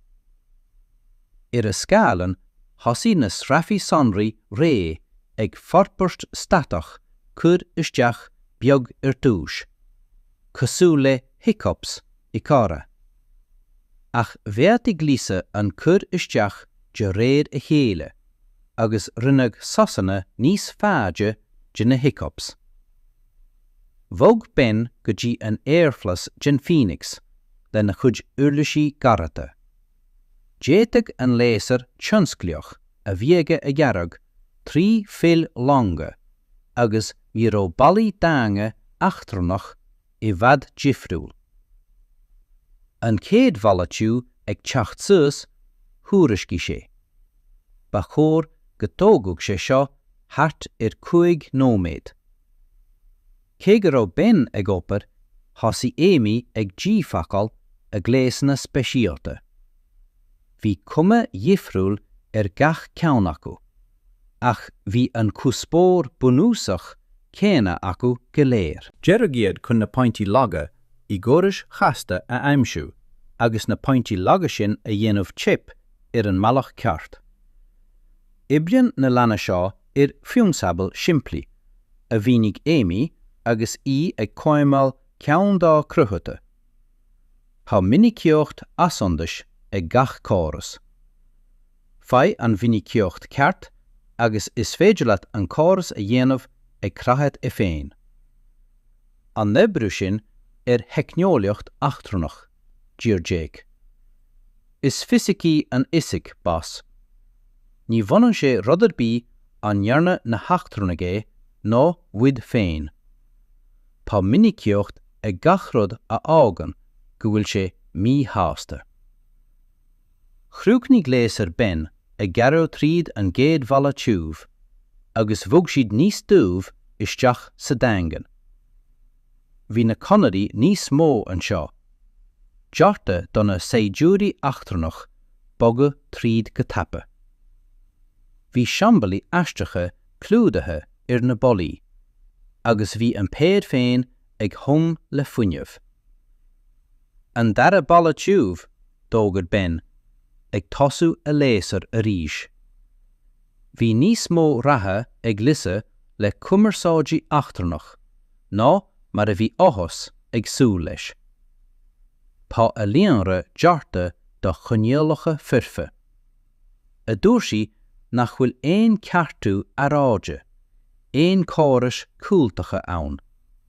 Speaker 1: Ar a scáileán thosaigh na sruthanna sonraí réidh ag forbairt statach cur isteach beag ar dtús, cosúil le hiccups i gcomhrá. Ach mhéadaigh Lisa an cur isteach de réir a chéile agus rinneadh sosanna níos faide de na hiccups. Bhog Ben go dtí an aerghlas den Phoenix lena chuid uirlisí gearrtha. D'fhéadfadh an léasar tionsclaíoch a bhí aige a ghearradh trí chabhail longa agus ní raibh ballaí daingin eachtrannach i bhfad difriúil. An chéad bhalla tiubh ag teacht suas, thuairiscigh sé. Ba chóir go dtógfadh sé seo thart ar 5 nóiméad. Cé go raibh Ben ag obair, thosaigh Amy ag díphacáil a gléasanna speisialta. Bhí cuma dhifriúil ar gach ceann acu, ach bhí an cuspóir bunúsach céanna acu go léir. Dearadh iad chun na pointí laga i gcórais chasta a aimsiú agus na pointí laga sin a dhéanamh teip ar an mbealach ceart. Oibríonn na leanaí seo ar phrionsabal simplí, a mhínigh Amy agus í ag cóimeáil ceann dá cruthaithe. Tá minicíocht athshondais ag gach córas. Faigh an mhinicíocht cheart agus is féidir leat an córas a dhéanamh ag creathadh é féin. An n-oibreodh sin ar theicneolaíocht eachtrannach, d'iarr Jake. Is fisic í an fhisic, bas. Ní bhaineann sé le rud ar bith an ndearna na heachtrannaigh é nó muid féin. Tá minicíocht ag gach rud a fhágann go bhfuil sé míshásta. Chríochnaigh léasar Ben ag gearradh tríd an gcéad bhalla tiubh agus bhog siad níos doimhne isteach sa Daingean. Bhí na conairí níos mó anseo. Deartha do na saighdiúirí eachtrannacha bogadh tríd go tapa. Bhí siombailí aisteacha clúdaithe ar na ballaí agus bhí an péad féin ag hum le fuinneamh. An dara balla tiubh, d'fhógair Ben, ag tosú a léasair arís. Bhí níos mó ratha ag Lisa le cumarsáidí eachtrannacha ná mar a bhí Atlas ag súil leis. Tá a líonra deartha do choinníollacha foirfe. a dúirt sí nach bhfuil aon ceartú earráide, aon córais chúltaca ann.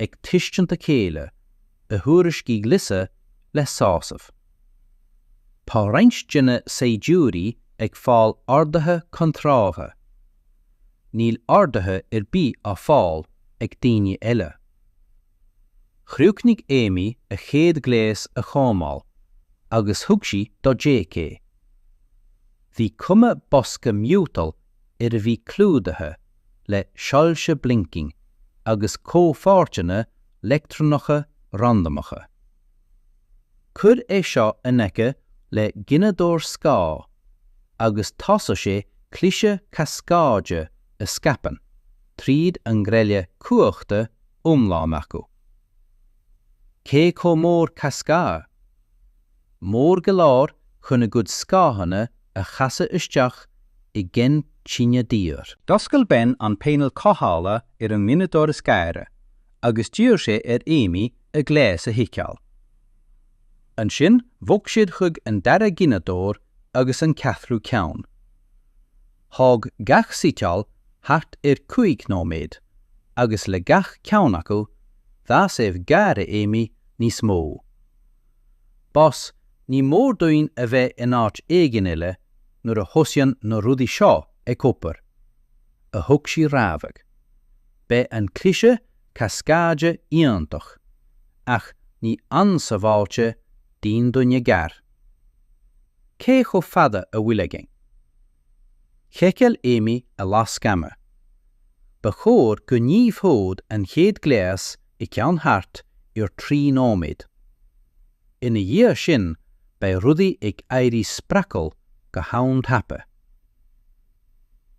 Speaker 1: ag tuiscint a chéile, a thuairiscigh Lisa le sásamh. Tá roinnt de na saighdiúirí ag fáil orduithe contrártha. Níl orduithe ar bith á fáil ag daoine eile. Chríochnaigh Amy a chéad ghléas a chóimeáil agus thug sí do Jake é. Bhí cuma bosca miotail air a bhí clúdaithe le soilse blinking agus comhpháirteanna leictreonacha randamacha. Cuir é seo in aice le gineadóir scáth agus tosóidh sé cliseadh cascáide a scaipeann tríd an ngreille cumhachta iomlán acu. Cé chomh mór cascáid, mór go leor chun a gcuid scáthanna a chasadh isteach i gcinn tine daor. D'oscail Ben an painéal cothabhála ar an ngineadóir is gaire agus d'iarr sé ar Amy a ghléas a sheiceáil. Ansin bhog siad chuig an dara gineadóir agus an ceathrú ceann. Thóg gach suiteáil thart ar 5 nóiméad agus le gach ceann acu, d'fhás aoibh gháire Amy níos mó. Bas ní mór duinn a bheith in áit éigin eile nuair a thosaíonn na rudaí seo ag obair, a thug sí rabhadh. Beidh an cliseadh cascáide iontach, ach ní an-sabháilte d'aon duine gar. Cé chomh fada a bhfuil againn? Sheiceáil Amy a lasc ama. Ba chóir go ngníomhódh an chéad gléas i gceann thart ar 3 nóiméad. Ina dhiaidh sin beidh rudaí ag éirí spreagúil go han-tapa.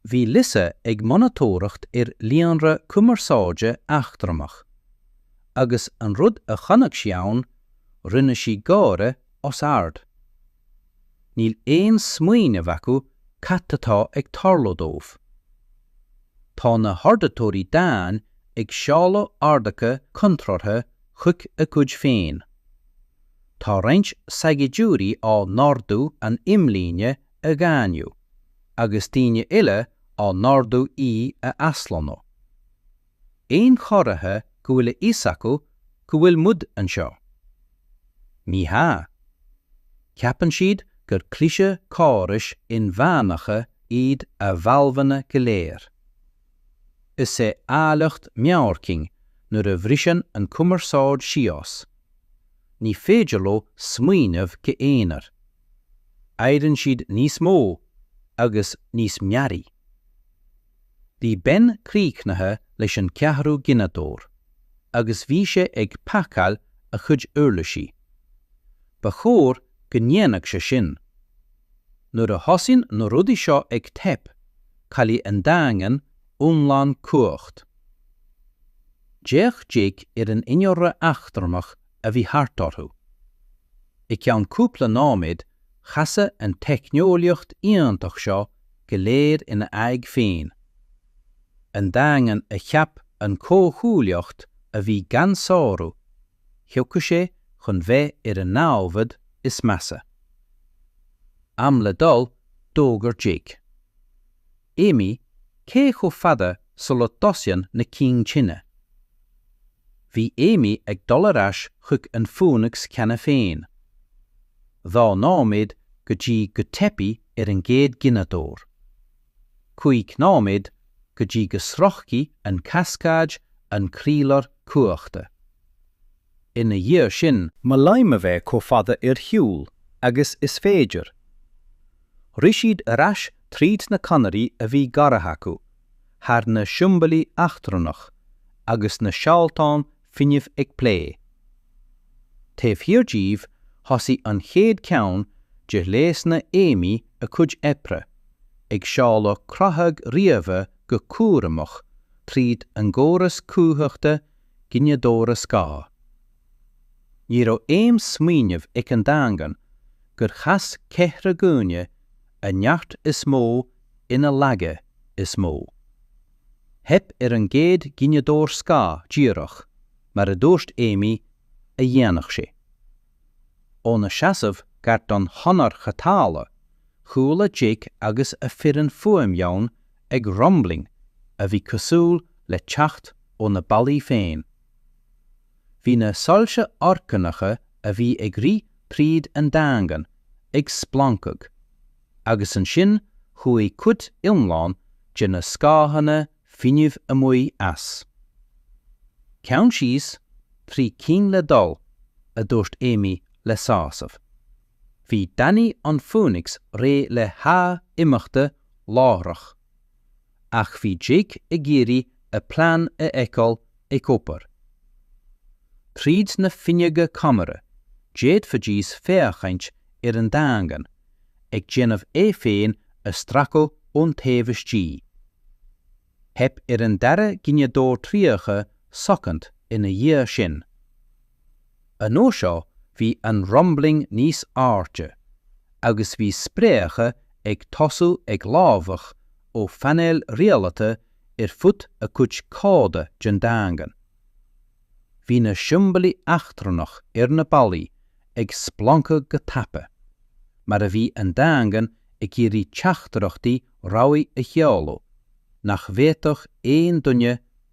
Speaker 1: Bhí Lisa ag monatóireacht ar líonra cumarsáide eachtrannach, agus an rud a chonaic sí ann, rinne sí gáire os ard. Níl aon smaoineamh acu cad atá ag tarlú dóibh. Tá na hordaitheoirí daingin ag seoladh orduithe contrártha chuig a gcuid féin. Tá roinnt saighdiúirí á n-ordú an imlíne a dhaingniú agus daoine eile á n-ordú í a aslonnú. aon chomhartha go bhfuil a fhios acu go bhfuil muid anseo. Ní hea. Ceapann siad gur cliseadh córais inmheánacha iad a bhfadhbanna go léir. Is é áilleacht meabhair cinn nuair a bhriseann an chumarsáid síos. Ní féidir leo smaoineamh go aonair. Éiríonn siad níos mó agus níos mearaí. Bhí Ben críochnaithe leis an gceathrú gineadóir agus bhí sé ag pacáil a chuid uirlisí. Ba chóir go ndéanfadh sé sin. Nuair a thosaíonn na rudaí seo ag teip, caillfidh an Daingean iomlán cumhacht. D'fhéach Jake ar an innealra eachtrannach a bhí thart orthu. I gceann cúpla nóiméad chasadh an teicneolaíocht iontach seo go léir ina aghaidh féin. An Daingean a cheap an chomhghuaillíocht a bhí gan sárú, thiocfadh sé chun bheith ar an námhad is measa. Am le dul, d'fhógair Jake. Amy, Cé chomh fada sula dtosaíonn na cinn tine? Bhí Amy ag dul ar ais chuig an Phoenix cheana féin. Dhá nóiméad go dtí go teipfidh ar an gcéad ghineadóir. Cúig nóiméad go dtí go sroichfidh an Cascade an croílár cumhachta. Ina dhiaidh sin. Molaim a bheith chomh fada ar shiúl agus is féidir. Rith siad ar ais tríd na conairí a bhí gearrtha acu, thar na siombailí eachtrannach agus na seoltáin fuinnimh ag plé. Taobh thiar díobh thosaigh an chéad cheann de ghléasanna Amy a cuid oibre, ag seoladh creathadh ríofa go cúramach tríd an gcóras cumhachta gineadóra scáth. Ní raibh aon smaoineamh ag an Daingean gur chas ceithre dhuine a neart is mó ina laige is mó. Theip ar an gcéad ghineadóir scáth díreach, mar a dúirt Amy, a dhéanfadh sé. Óna seasamh gar don chonair chothabhála, chuala Jake agus a foireann fuaim dhomhain ag rumbling a bhí cosúil le teacht ó na ballaí féin. Bhí na soilse orgánacha a bhí ag rith tríd an Daingean ag splancadh, agus ansin chuaigh cuid iomlán de na scáthanna fuinnimh amuigh as. Ceann síos, trí cinn le dul, a dúirt Amy le sásamh. Bhí Danny an Phoenix réidh le haghaidh imeachta láithreach. ach bhí Jake ag iarraidh a plean a fheiceáil ag obair. Tríd na fuinneoga ceamara, d'fhéadfaidís féachaint ar an Daingean ag déanamh é féin a stracadh ón taobh istigh. Theip ar an dara gineadóir 30 soicind ina dhiaidh sin. An uair seo bhí an 'rumbling' níos airde agus bhí spréacha ag tosú ag lámhach ó phainéil rialaithe ar fud a cuid coda den Daingean. Bhí na siombailí eachtrannach ar na ballaí ag splancadh go tapa, mar a bhí an Daingean ag iarraidh teachtaireachtaí rabhaidh a sheoladh nach bhféadfadh aon duine a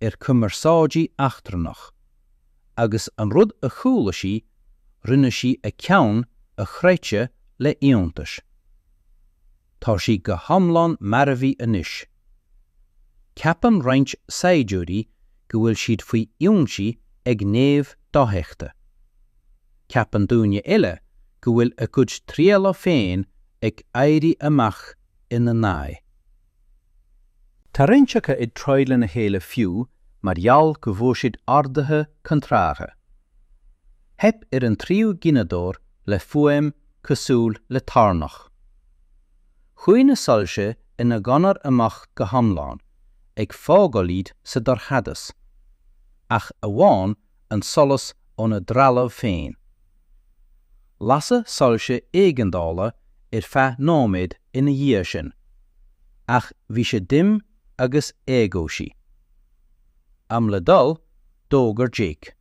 Speaker 1: ar cumarsáidí eachtrannach, agus an rud a chuala sí rinne sí a ceann a chroitheadh le h-iontas. Tá sí go h-iomlán marbhaí anois. Ceapann roinnt saighdiúirí go bhfuil siad faoi ionsaí ag naimhde dofheicthe. Ceapann daoine eile go bhfuil a gcuid trealaimh féin ag éirí amach ina n-aghaidh.
Speaker 2: Tá roinnt acu ag troid lena chéile fiú mar gheall go bhfuair siad orduithe contrártha. Theip ar an tríú gineadóir le fuaim cosúil le toirneach. Chuaigh na soilse ina gconair amach go hiomlán, ag fágáil iad sa dorchadas, ach amháin an solas óna dtrealamh féin. Lasadh soilse éigeandála ar feadh nóiméad ina dhiaidh sin, ach bhí sé dim agus éagobhsaí. Am le dul, d'fhógair Jake.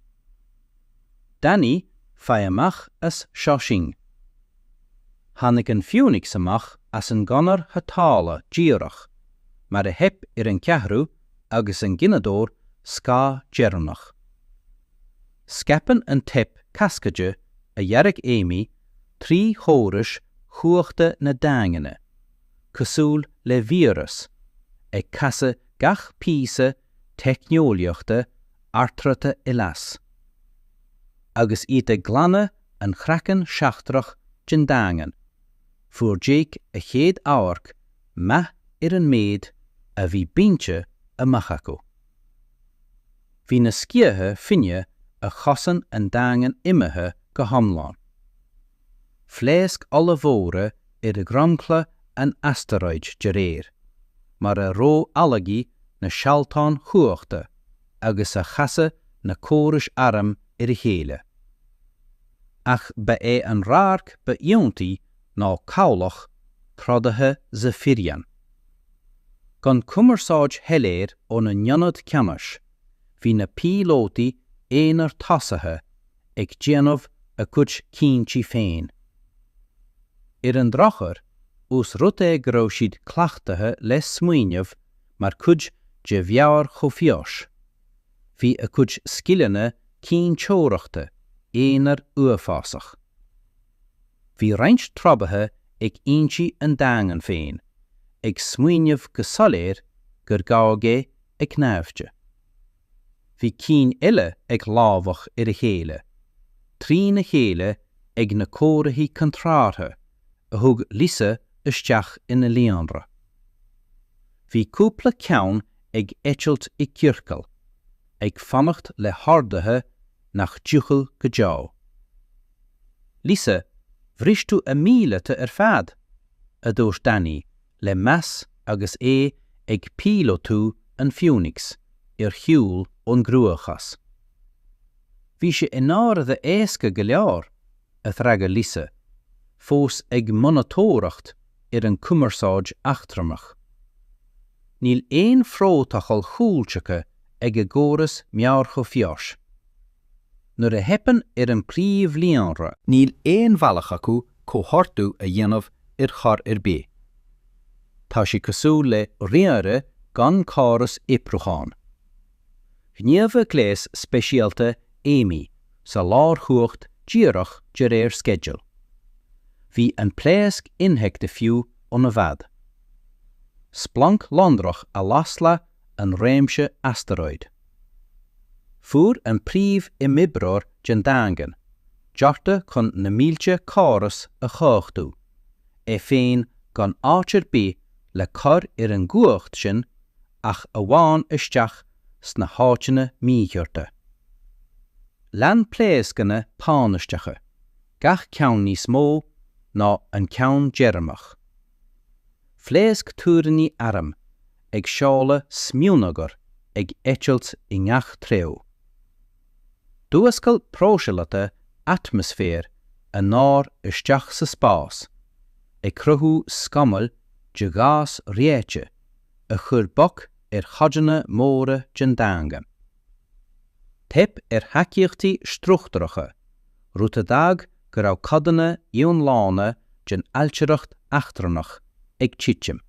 Speaker 2: Danny, faigh amach as seo sinn. Tháinig an Phoenix amach as an gconair chothabhála díreach mar a theip ar an cheathrú agus an gineadóir scáth deireanach. Scaipeann an teip cascaide a dhear Amy trí chórais chumhachta na daingne, cosúil le víreas, ag casadh gach píosa teicneolaíochta ardráta i léas, agus iad ag glanadh an chraicinn seachtrach den daingean, fuair Jake a chéad amharc maith ar an méid a bhí bainte amach acu. Bhí na sciatha fuinnimh a chosain an daingean imithe go hiomlán. Pléascanna ollmhóra ar dhromchla an astaróid de réir mar a ró-ualaigh na sealláin chumhachta agus a chasadh na córais airm ar a chéile. Ach ba é an radharc ba iontaí ná cabhlach trodaithe Zafiryan. Gan cumarsáid shoiléir óna n-ionad ceannais, bhí na píolótaí aonair tosaithe ag déanamh a gcuid cinntí féin. Ar an drochuair, ós rud é go raibh siad cleachtaithe le smaoineamh mar chuid de mheabhair chomhfhios, bhí a gcuid scileanna cinnteoireachta aonair uafásach. Bhí roinnt trodaithe ag ionsaí an Daingin féin ag smaoineamh go soiléir gur gabhadh é ag naimhde. Bhí cinn eile ag lámhach ar a chéile, trína chéile ag na comharthaí contrártha a thug Lisa isteach ina líonra. Bhí cúpla ceann ag eitilt i gciorcal ag fanacht le horduithe nach dtiocfadh go deo. Lisa, bhris tú a míleata ar fad! a dúirt Danny le
Speaker 1: meas agus é ag píolótú an Phoenix ar shiúl ón gcruachás. Bhí sé i ndáiríre éasca go leor, a d'fhreagair Lisa, fós ag monatóireacht ar an chumarsáid eachtrannach. Níl aon phrótacal cúltaca ag a gcóras meabhair chomhfheasa. Nuair a theipeann ar an bpríomhlíonra, níl aon bhealach acu comhordú a dhéanamh ar chor ar bith. Tá sé cosúil le ríomhaire gan córas oibriúcháin. Ghníomhaigh gléas speisialta Amy sa lárchumhacht díreach de réir sceidil. Bhí an pléasc infheicthe fiú óna bhfad. Splanc lonrach a las leath an réimse astaróid. Fuair an príomh-imoibreoir den Daingean deartha chun na mílte córas a chumhachtú. é féin gan áit ar bith le cur ar an gcumhacht sin ach amháin isteach sna háiteanna míchearta. Lean pléascanna tánaisteacha, gach ceann níos mó ná an ceann deireanach. Phléasc túiríní airm ag seoladh smionagar ag eitilt i ngach treo. D'fhuascail próiseálaithe atmaisféir an t-aer isteach sa spás, ag cruthú scamaill de ghás reoite a chuir bac ar chodanna móra den daingean. Theip ar thacaíochtaí struchtúracha, rud a d'fhág go raibh codanna iomlána den ailtireacht eachtrannach ag titim.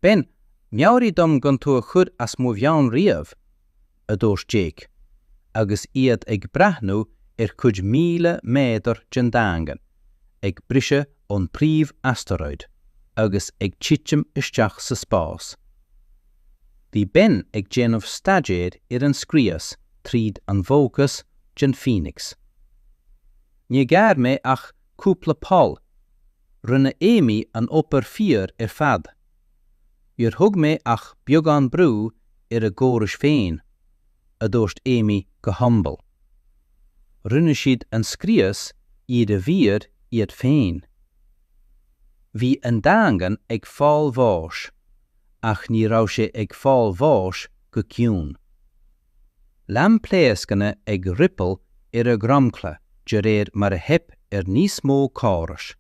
Speaker 1: Ben, meabhraigh dom gan tú a chur as mo mheon riamh, a dúirt Jake, agus iad ag breathnú ar chuid míle méadar den Daingean ag briseadh ón bpríomh-astaróid agus ag titim isteach sa spás. Bhí Ben ag déanamh staidéir ar an scrios tríd an bhfócas den Phoenix. Níor ghearr mé ach cúpla poll, rinne Amy an obair fíor ar fad. Níor thug mé ach beagán brú ar a gcórais féin, a dúirt Amy go humble. Rinne siad an scrios iarbhír iad féin. Bhí an Daingean ag fáil bháis ach ní raibh sé ag fáil bháis go ciúin. Lean pléascanna ag ripple ar a dhromchla de réir mar a theip ar níos mó córais.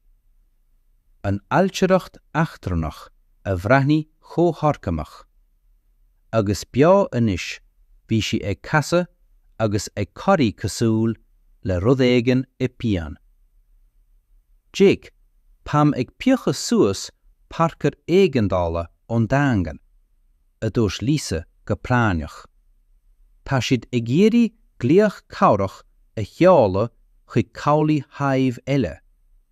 Speaker 1: an ailtireacht eachtrannach a bhreathnaigh chomh horgánach agus beo, anois bhí sí ag casadh agus ag corraí cosúil le rud éigin i bpian. Jake, táim ag piocadh suas pairceáir éigeandála ón Daingean, a dúirt Lisa go práinneach. Tá siad ag iarraidh glaoch cabhrach a sheoladh chuig cabhlaigh Hive eile,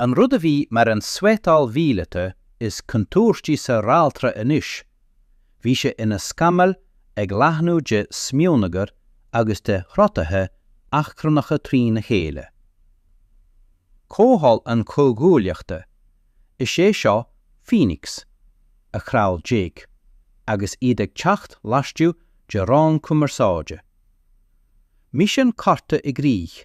Speaker 1: An rud a bhí mar an suiteáil mhíleata is contúirtí sa realtra anois, bhí sé ina scamall ag leathnú de smionagar agus de throdaithe eachtrannacha trína chéile. Comhdháil an chomhghuaillíochta, is é seo Phoenix, a chraol Jake, agus iad ag teacht laistigh de raon cumarsáide. Misean curtha i gcrích,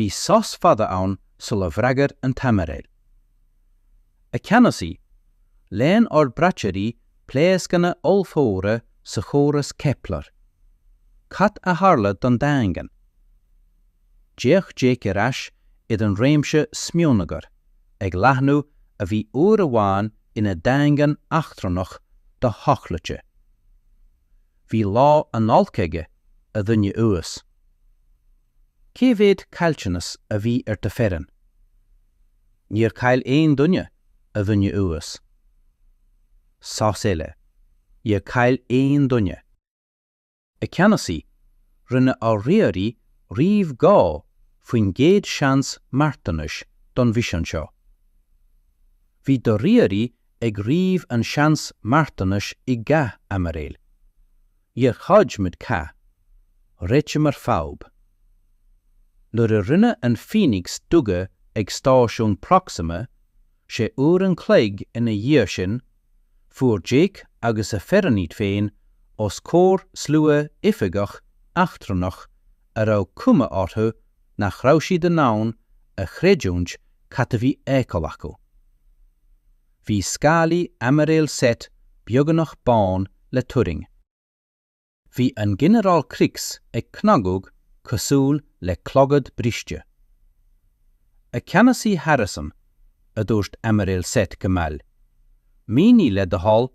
Speaker 1: Bhí sos fada ann sula bhfreagair an tAimiréal. A Cheannasaí, léann ár braiteoirí pléascanna ollmhóra sa chóras Kepler. Cad a tharla don Daingean? D'fhéach Jake ar ais ar an réimse smionagar ag leathnú a bhí uair amháin ina dhaingean eachtrannach do-thochlaite. Bhí lá an-olc aige, a dhuine uas. Cé mhéad caillteanas a bhí ar do fhoireann? Níor chaill aon duine, a dhuine uas. Sos eile. Níor chaill aon duine. A Cheannasaí, rinne ár ríomhairí ríomh dhá faoin gcéad seans marthanais don mhisean seo. Bhí do ríomhairí ag ríomh an seans marthanais i gcath Aimiréil. Níor throid muid cath, réitíomar fadhb. Nuair a rinne an Phoenix duga ag stáisiún Proxima, sé uair an chloig ina dhiaidh sin, fuair Jake agus a fhoireann iad féin os comhair slua oifigeach eachtrannach a raibh cuma orthu nach raibh siad in ann a chreidiúint cad a bhí fheiceáil acu. Bhí scálaí Aimiréal Set beagnach bán le turraing. Bhí an Ginearál Krix ag cnagadh cosúil le clogad briste. 'A Cheannasaí Harrison, a dúirt Aimiréal Set go mall, 'mínigh le do thoil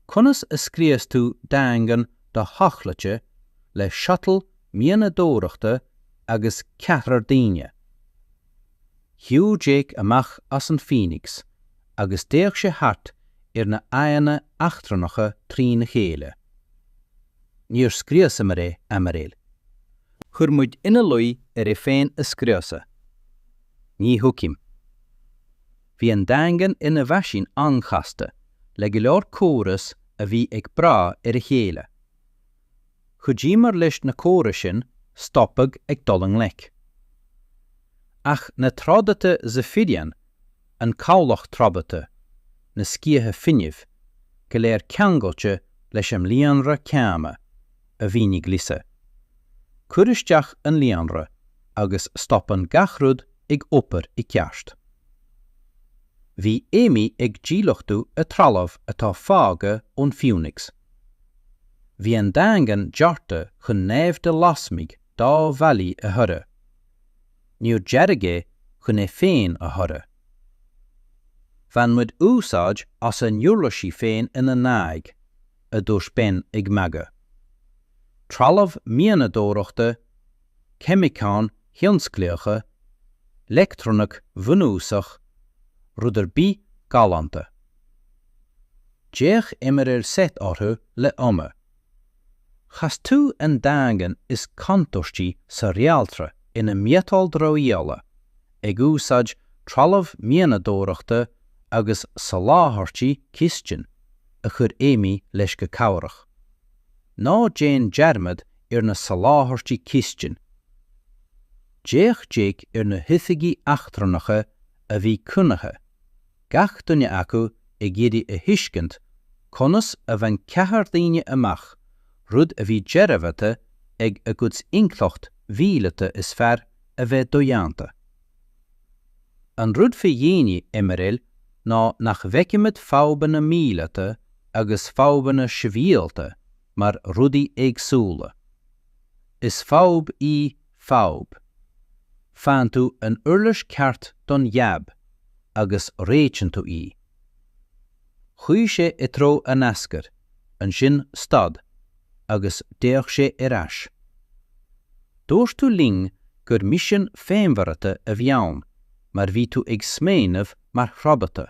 Speaker 1: conas a scrios tú daingean do-thochlaite le shuttle mianadóireachta agus ceathrar daoine. Shiúil Jake amach as an Phoenix agus d'fhéach sé thart ar na aghaidheanna eachtrannacha trína chéile. Níor scriosamar é, aimiréil. Chuir muid ina luí air é féin a scriosadh. Ní thuigim. Bhí an Daingean ina mheaisín an-chasta, le go leor córas a bhí ag brath ar a chéile. Chuidíomar leis na córais sin stopadh ag dul i ngleic. Ach na trodaithe Zephyrian, an Cabhlach Trodaithe, na Sciatha Fuinnimh, go léir ceangailte leis an líonra céanna, a mhínigh Lisa. Cuir isteach an líonra agus stopann gach rud ag obair i gceart. Bhí Amy ag díluchtú a trealamh atá fágtha ón Phoenix. Bhí an Daingean dearta chun naimhde lasmuigh dá bhallaí a throid. Níor dearadh é chun é féin a throid. Bhain muid úsáid as a n-uirlisí féin ina n-aghaidh, a dúirt Ben ag magadh. Trealamh mianadóireachta, ceimiceáin thionsclaíocha, leictronaic bhunúsach, rud ar bith galánta. D'fhéach Aimiréal Seth orthu le ioma. Chas tú an daingean is contúirtí sa réaltra ina miotal dramhaíola, ag úsáid trealamh mianadóireachta agus soláthairtí cistine, a chuir Amy leis go cabhrach. Ná déan dearmad ar na soláthairtí cistine! D'fhéach Jake ar na hoifigigh eachtrannacha a bhí coinnithe. gach duine acu ag iarraidh a thuiscint conas a bhain ceathrar daoine amach rud a bhí dearbhaithe ag a gcuid intleacht mhíleata is fearr a bheith dodhéanta. An rud faoi dhaoine, Aimiréal, ná nach bhfeicimid fadhbanna míleata agus fadhbanna sibhialta mar rudaí éagsúla. Is fadhb í fadhb. Faigheann tú an uirlis ceart don jab agus réitíonn tú í. Chuigh sé i dtreo an ascair, ansin stad agus d'fhéach sé ar ais. Dúirt tú linn gur misean féinmharaithe a bhí ann mar bhí tú ag smaoineamh mar stráitéisí.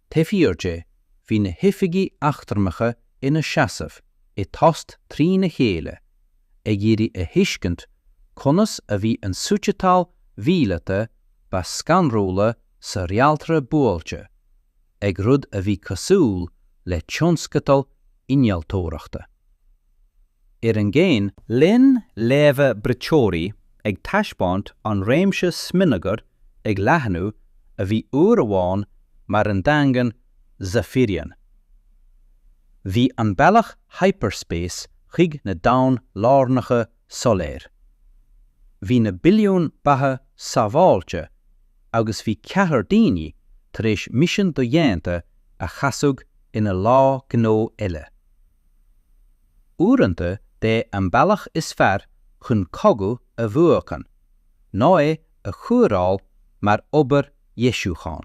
Speaker 1: Taobh thiar de, bhí na hoifigigh eachtrannacha ina seasamh i dtost trína chéile, ag iarraidh a thuiscint conas a bhí an suiteáil mhíleata ba scanrúla sa réaltra buailte ag rud a bhí cosúil le tionscadal innealtóireachta. Sa chéin, lean léamha braiteoirí ag taispeáint an réimse smionagair ag leathnú a bhí uair amháin mar an daingean Zaphirion. Bhí an bealach hyperspace chuig na domhain lárnacha soiléir. Bhí na billiúin beatha sábháilte agus bhí ceathrar daoine tar éis misean dodhéanta a chasadh ina lá gnó eile. Uaireanta b'é an bealach is fearr chun cogadh a bhuachan ná é a chóireáil mar obair dheisiúcháin.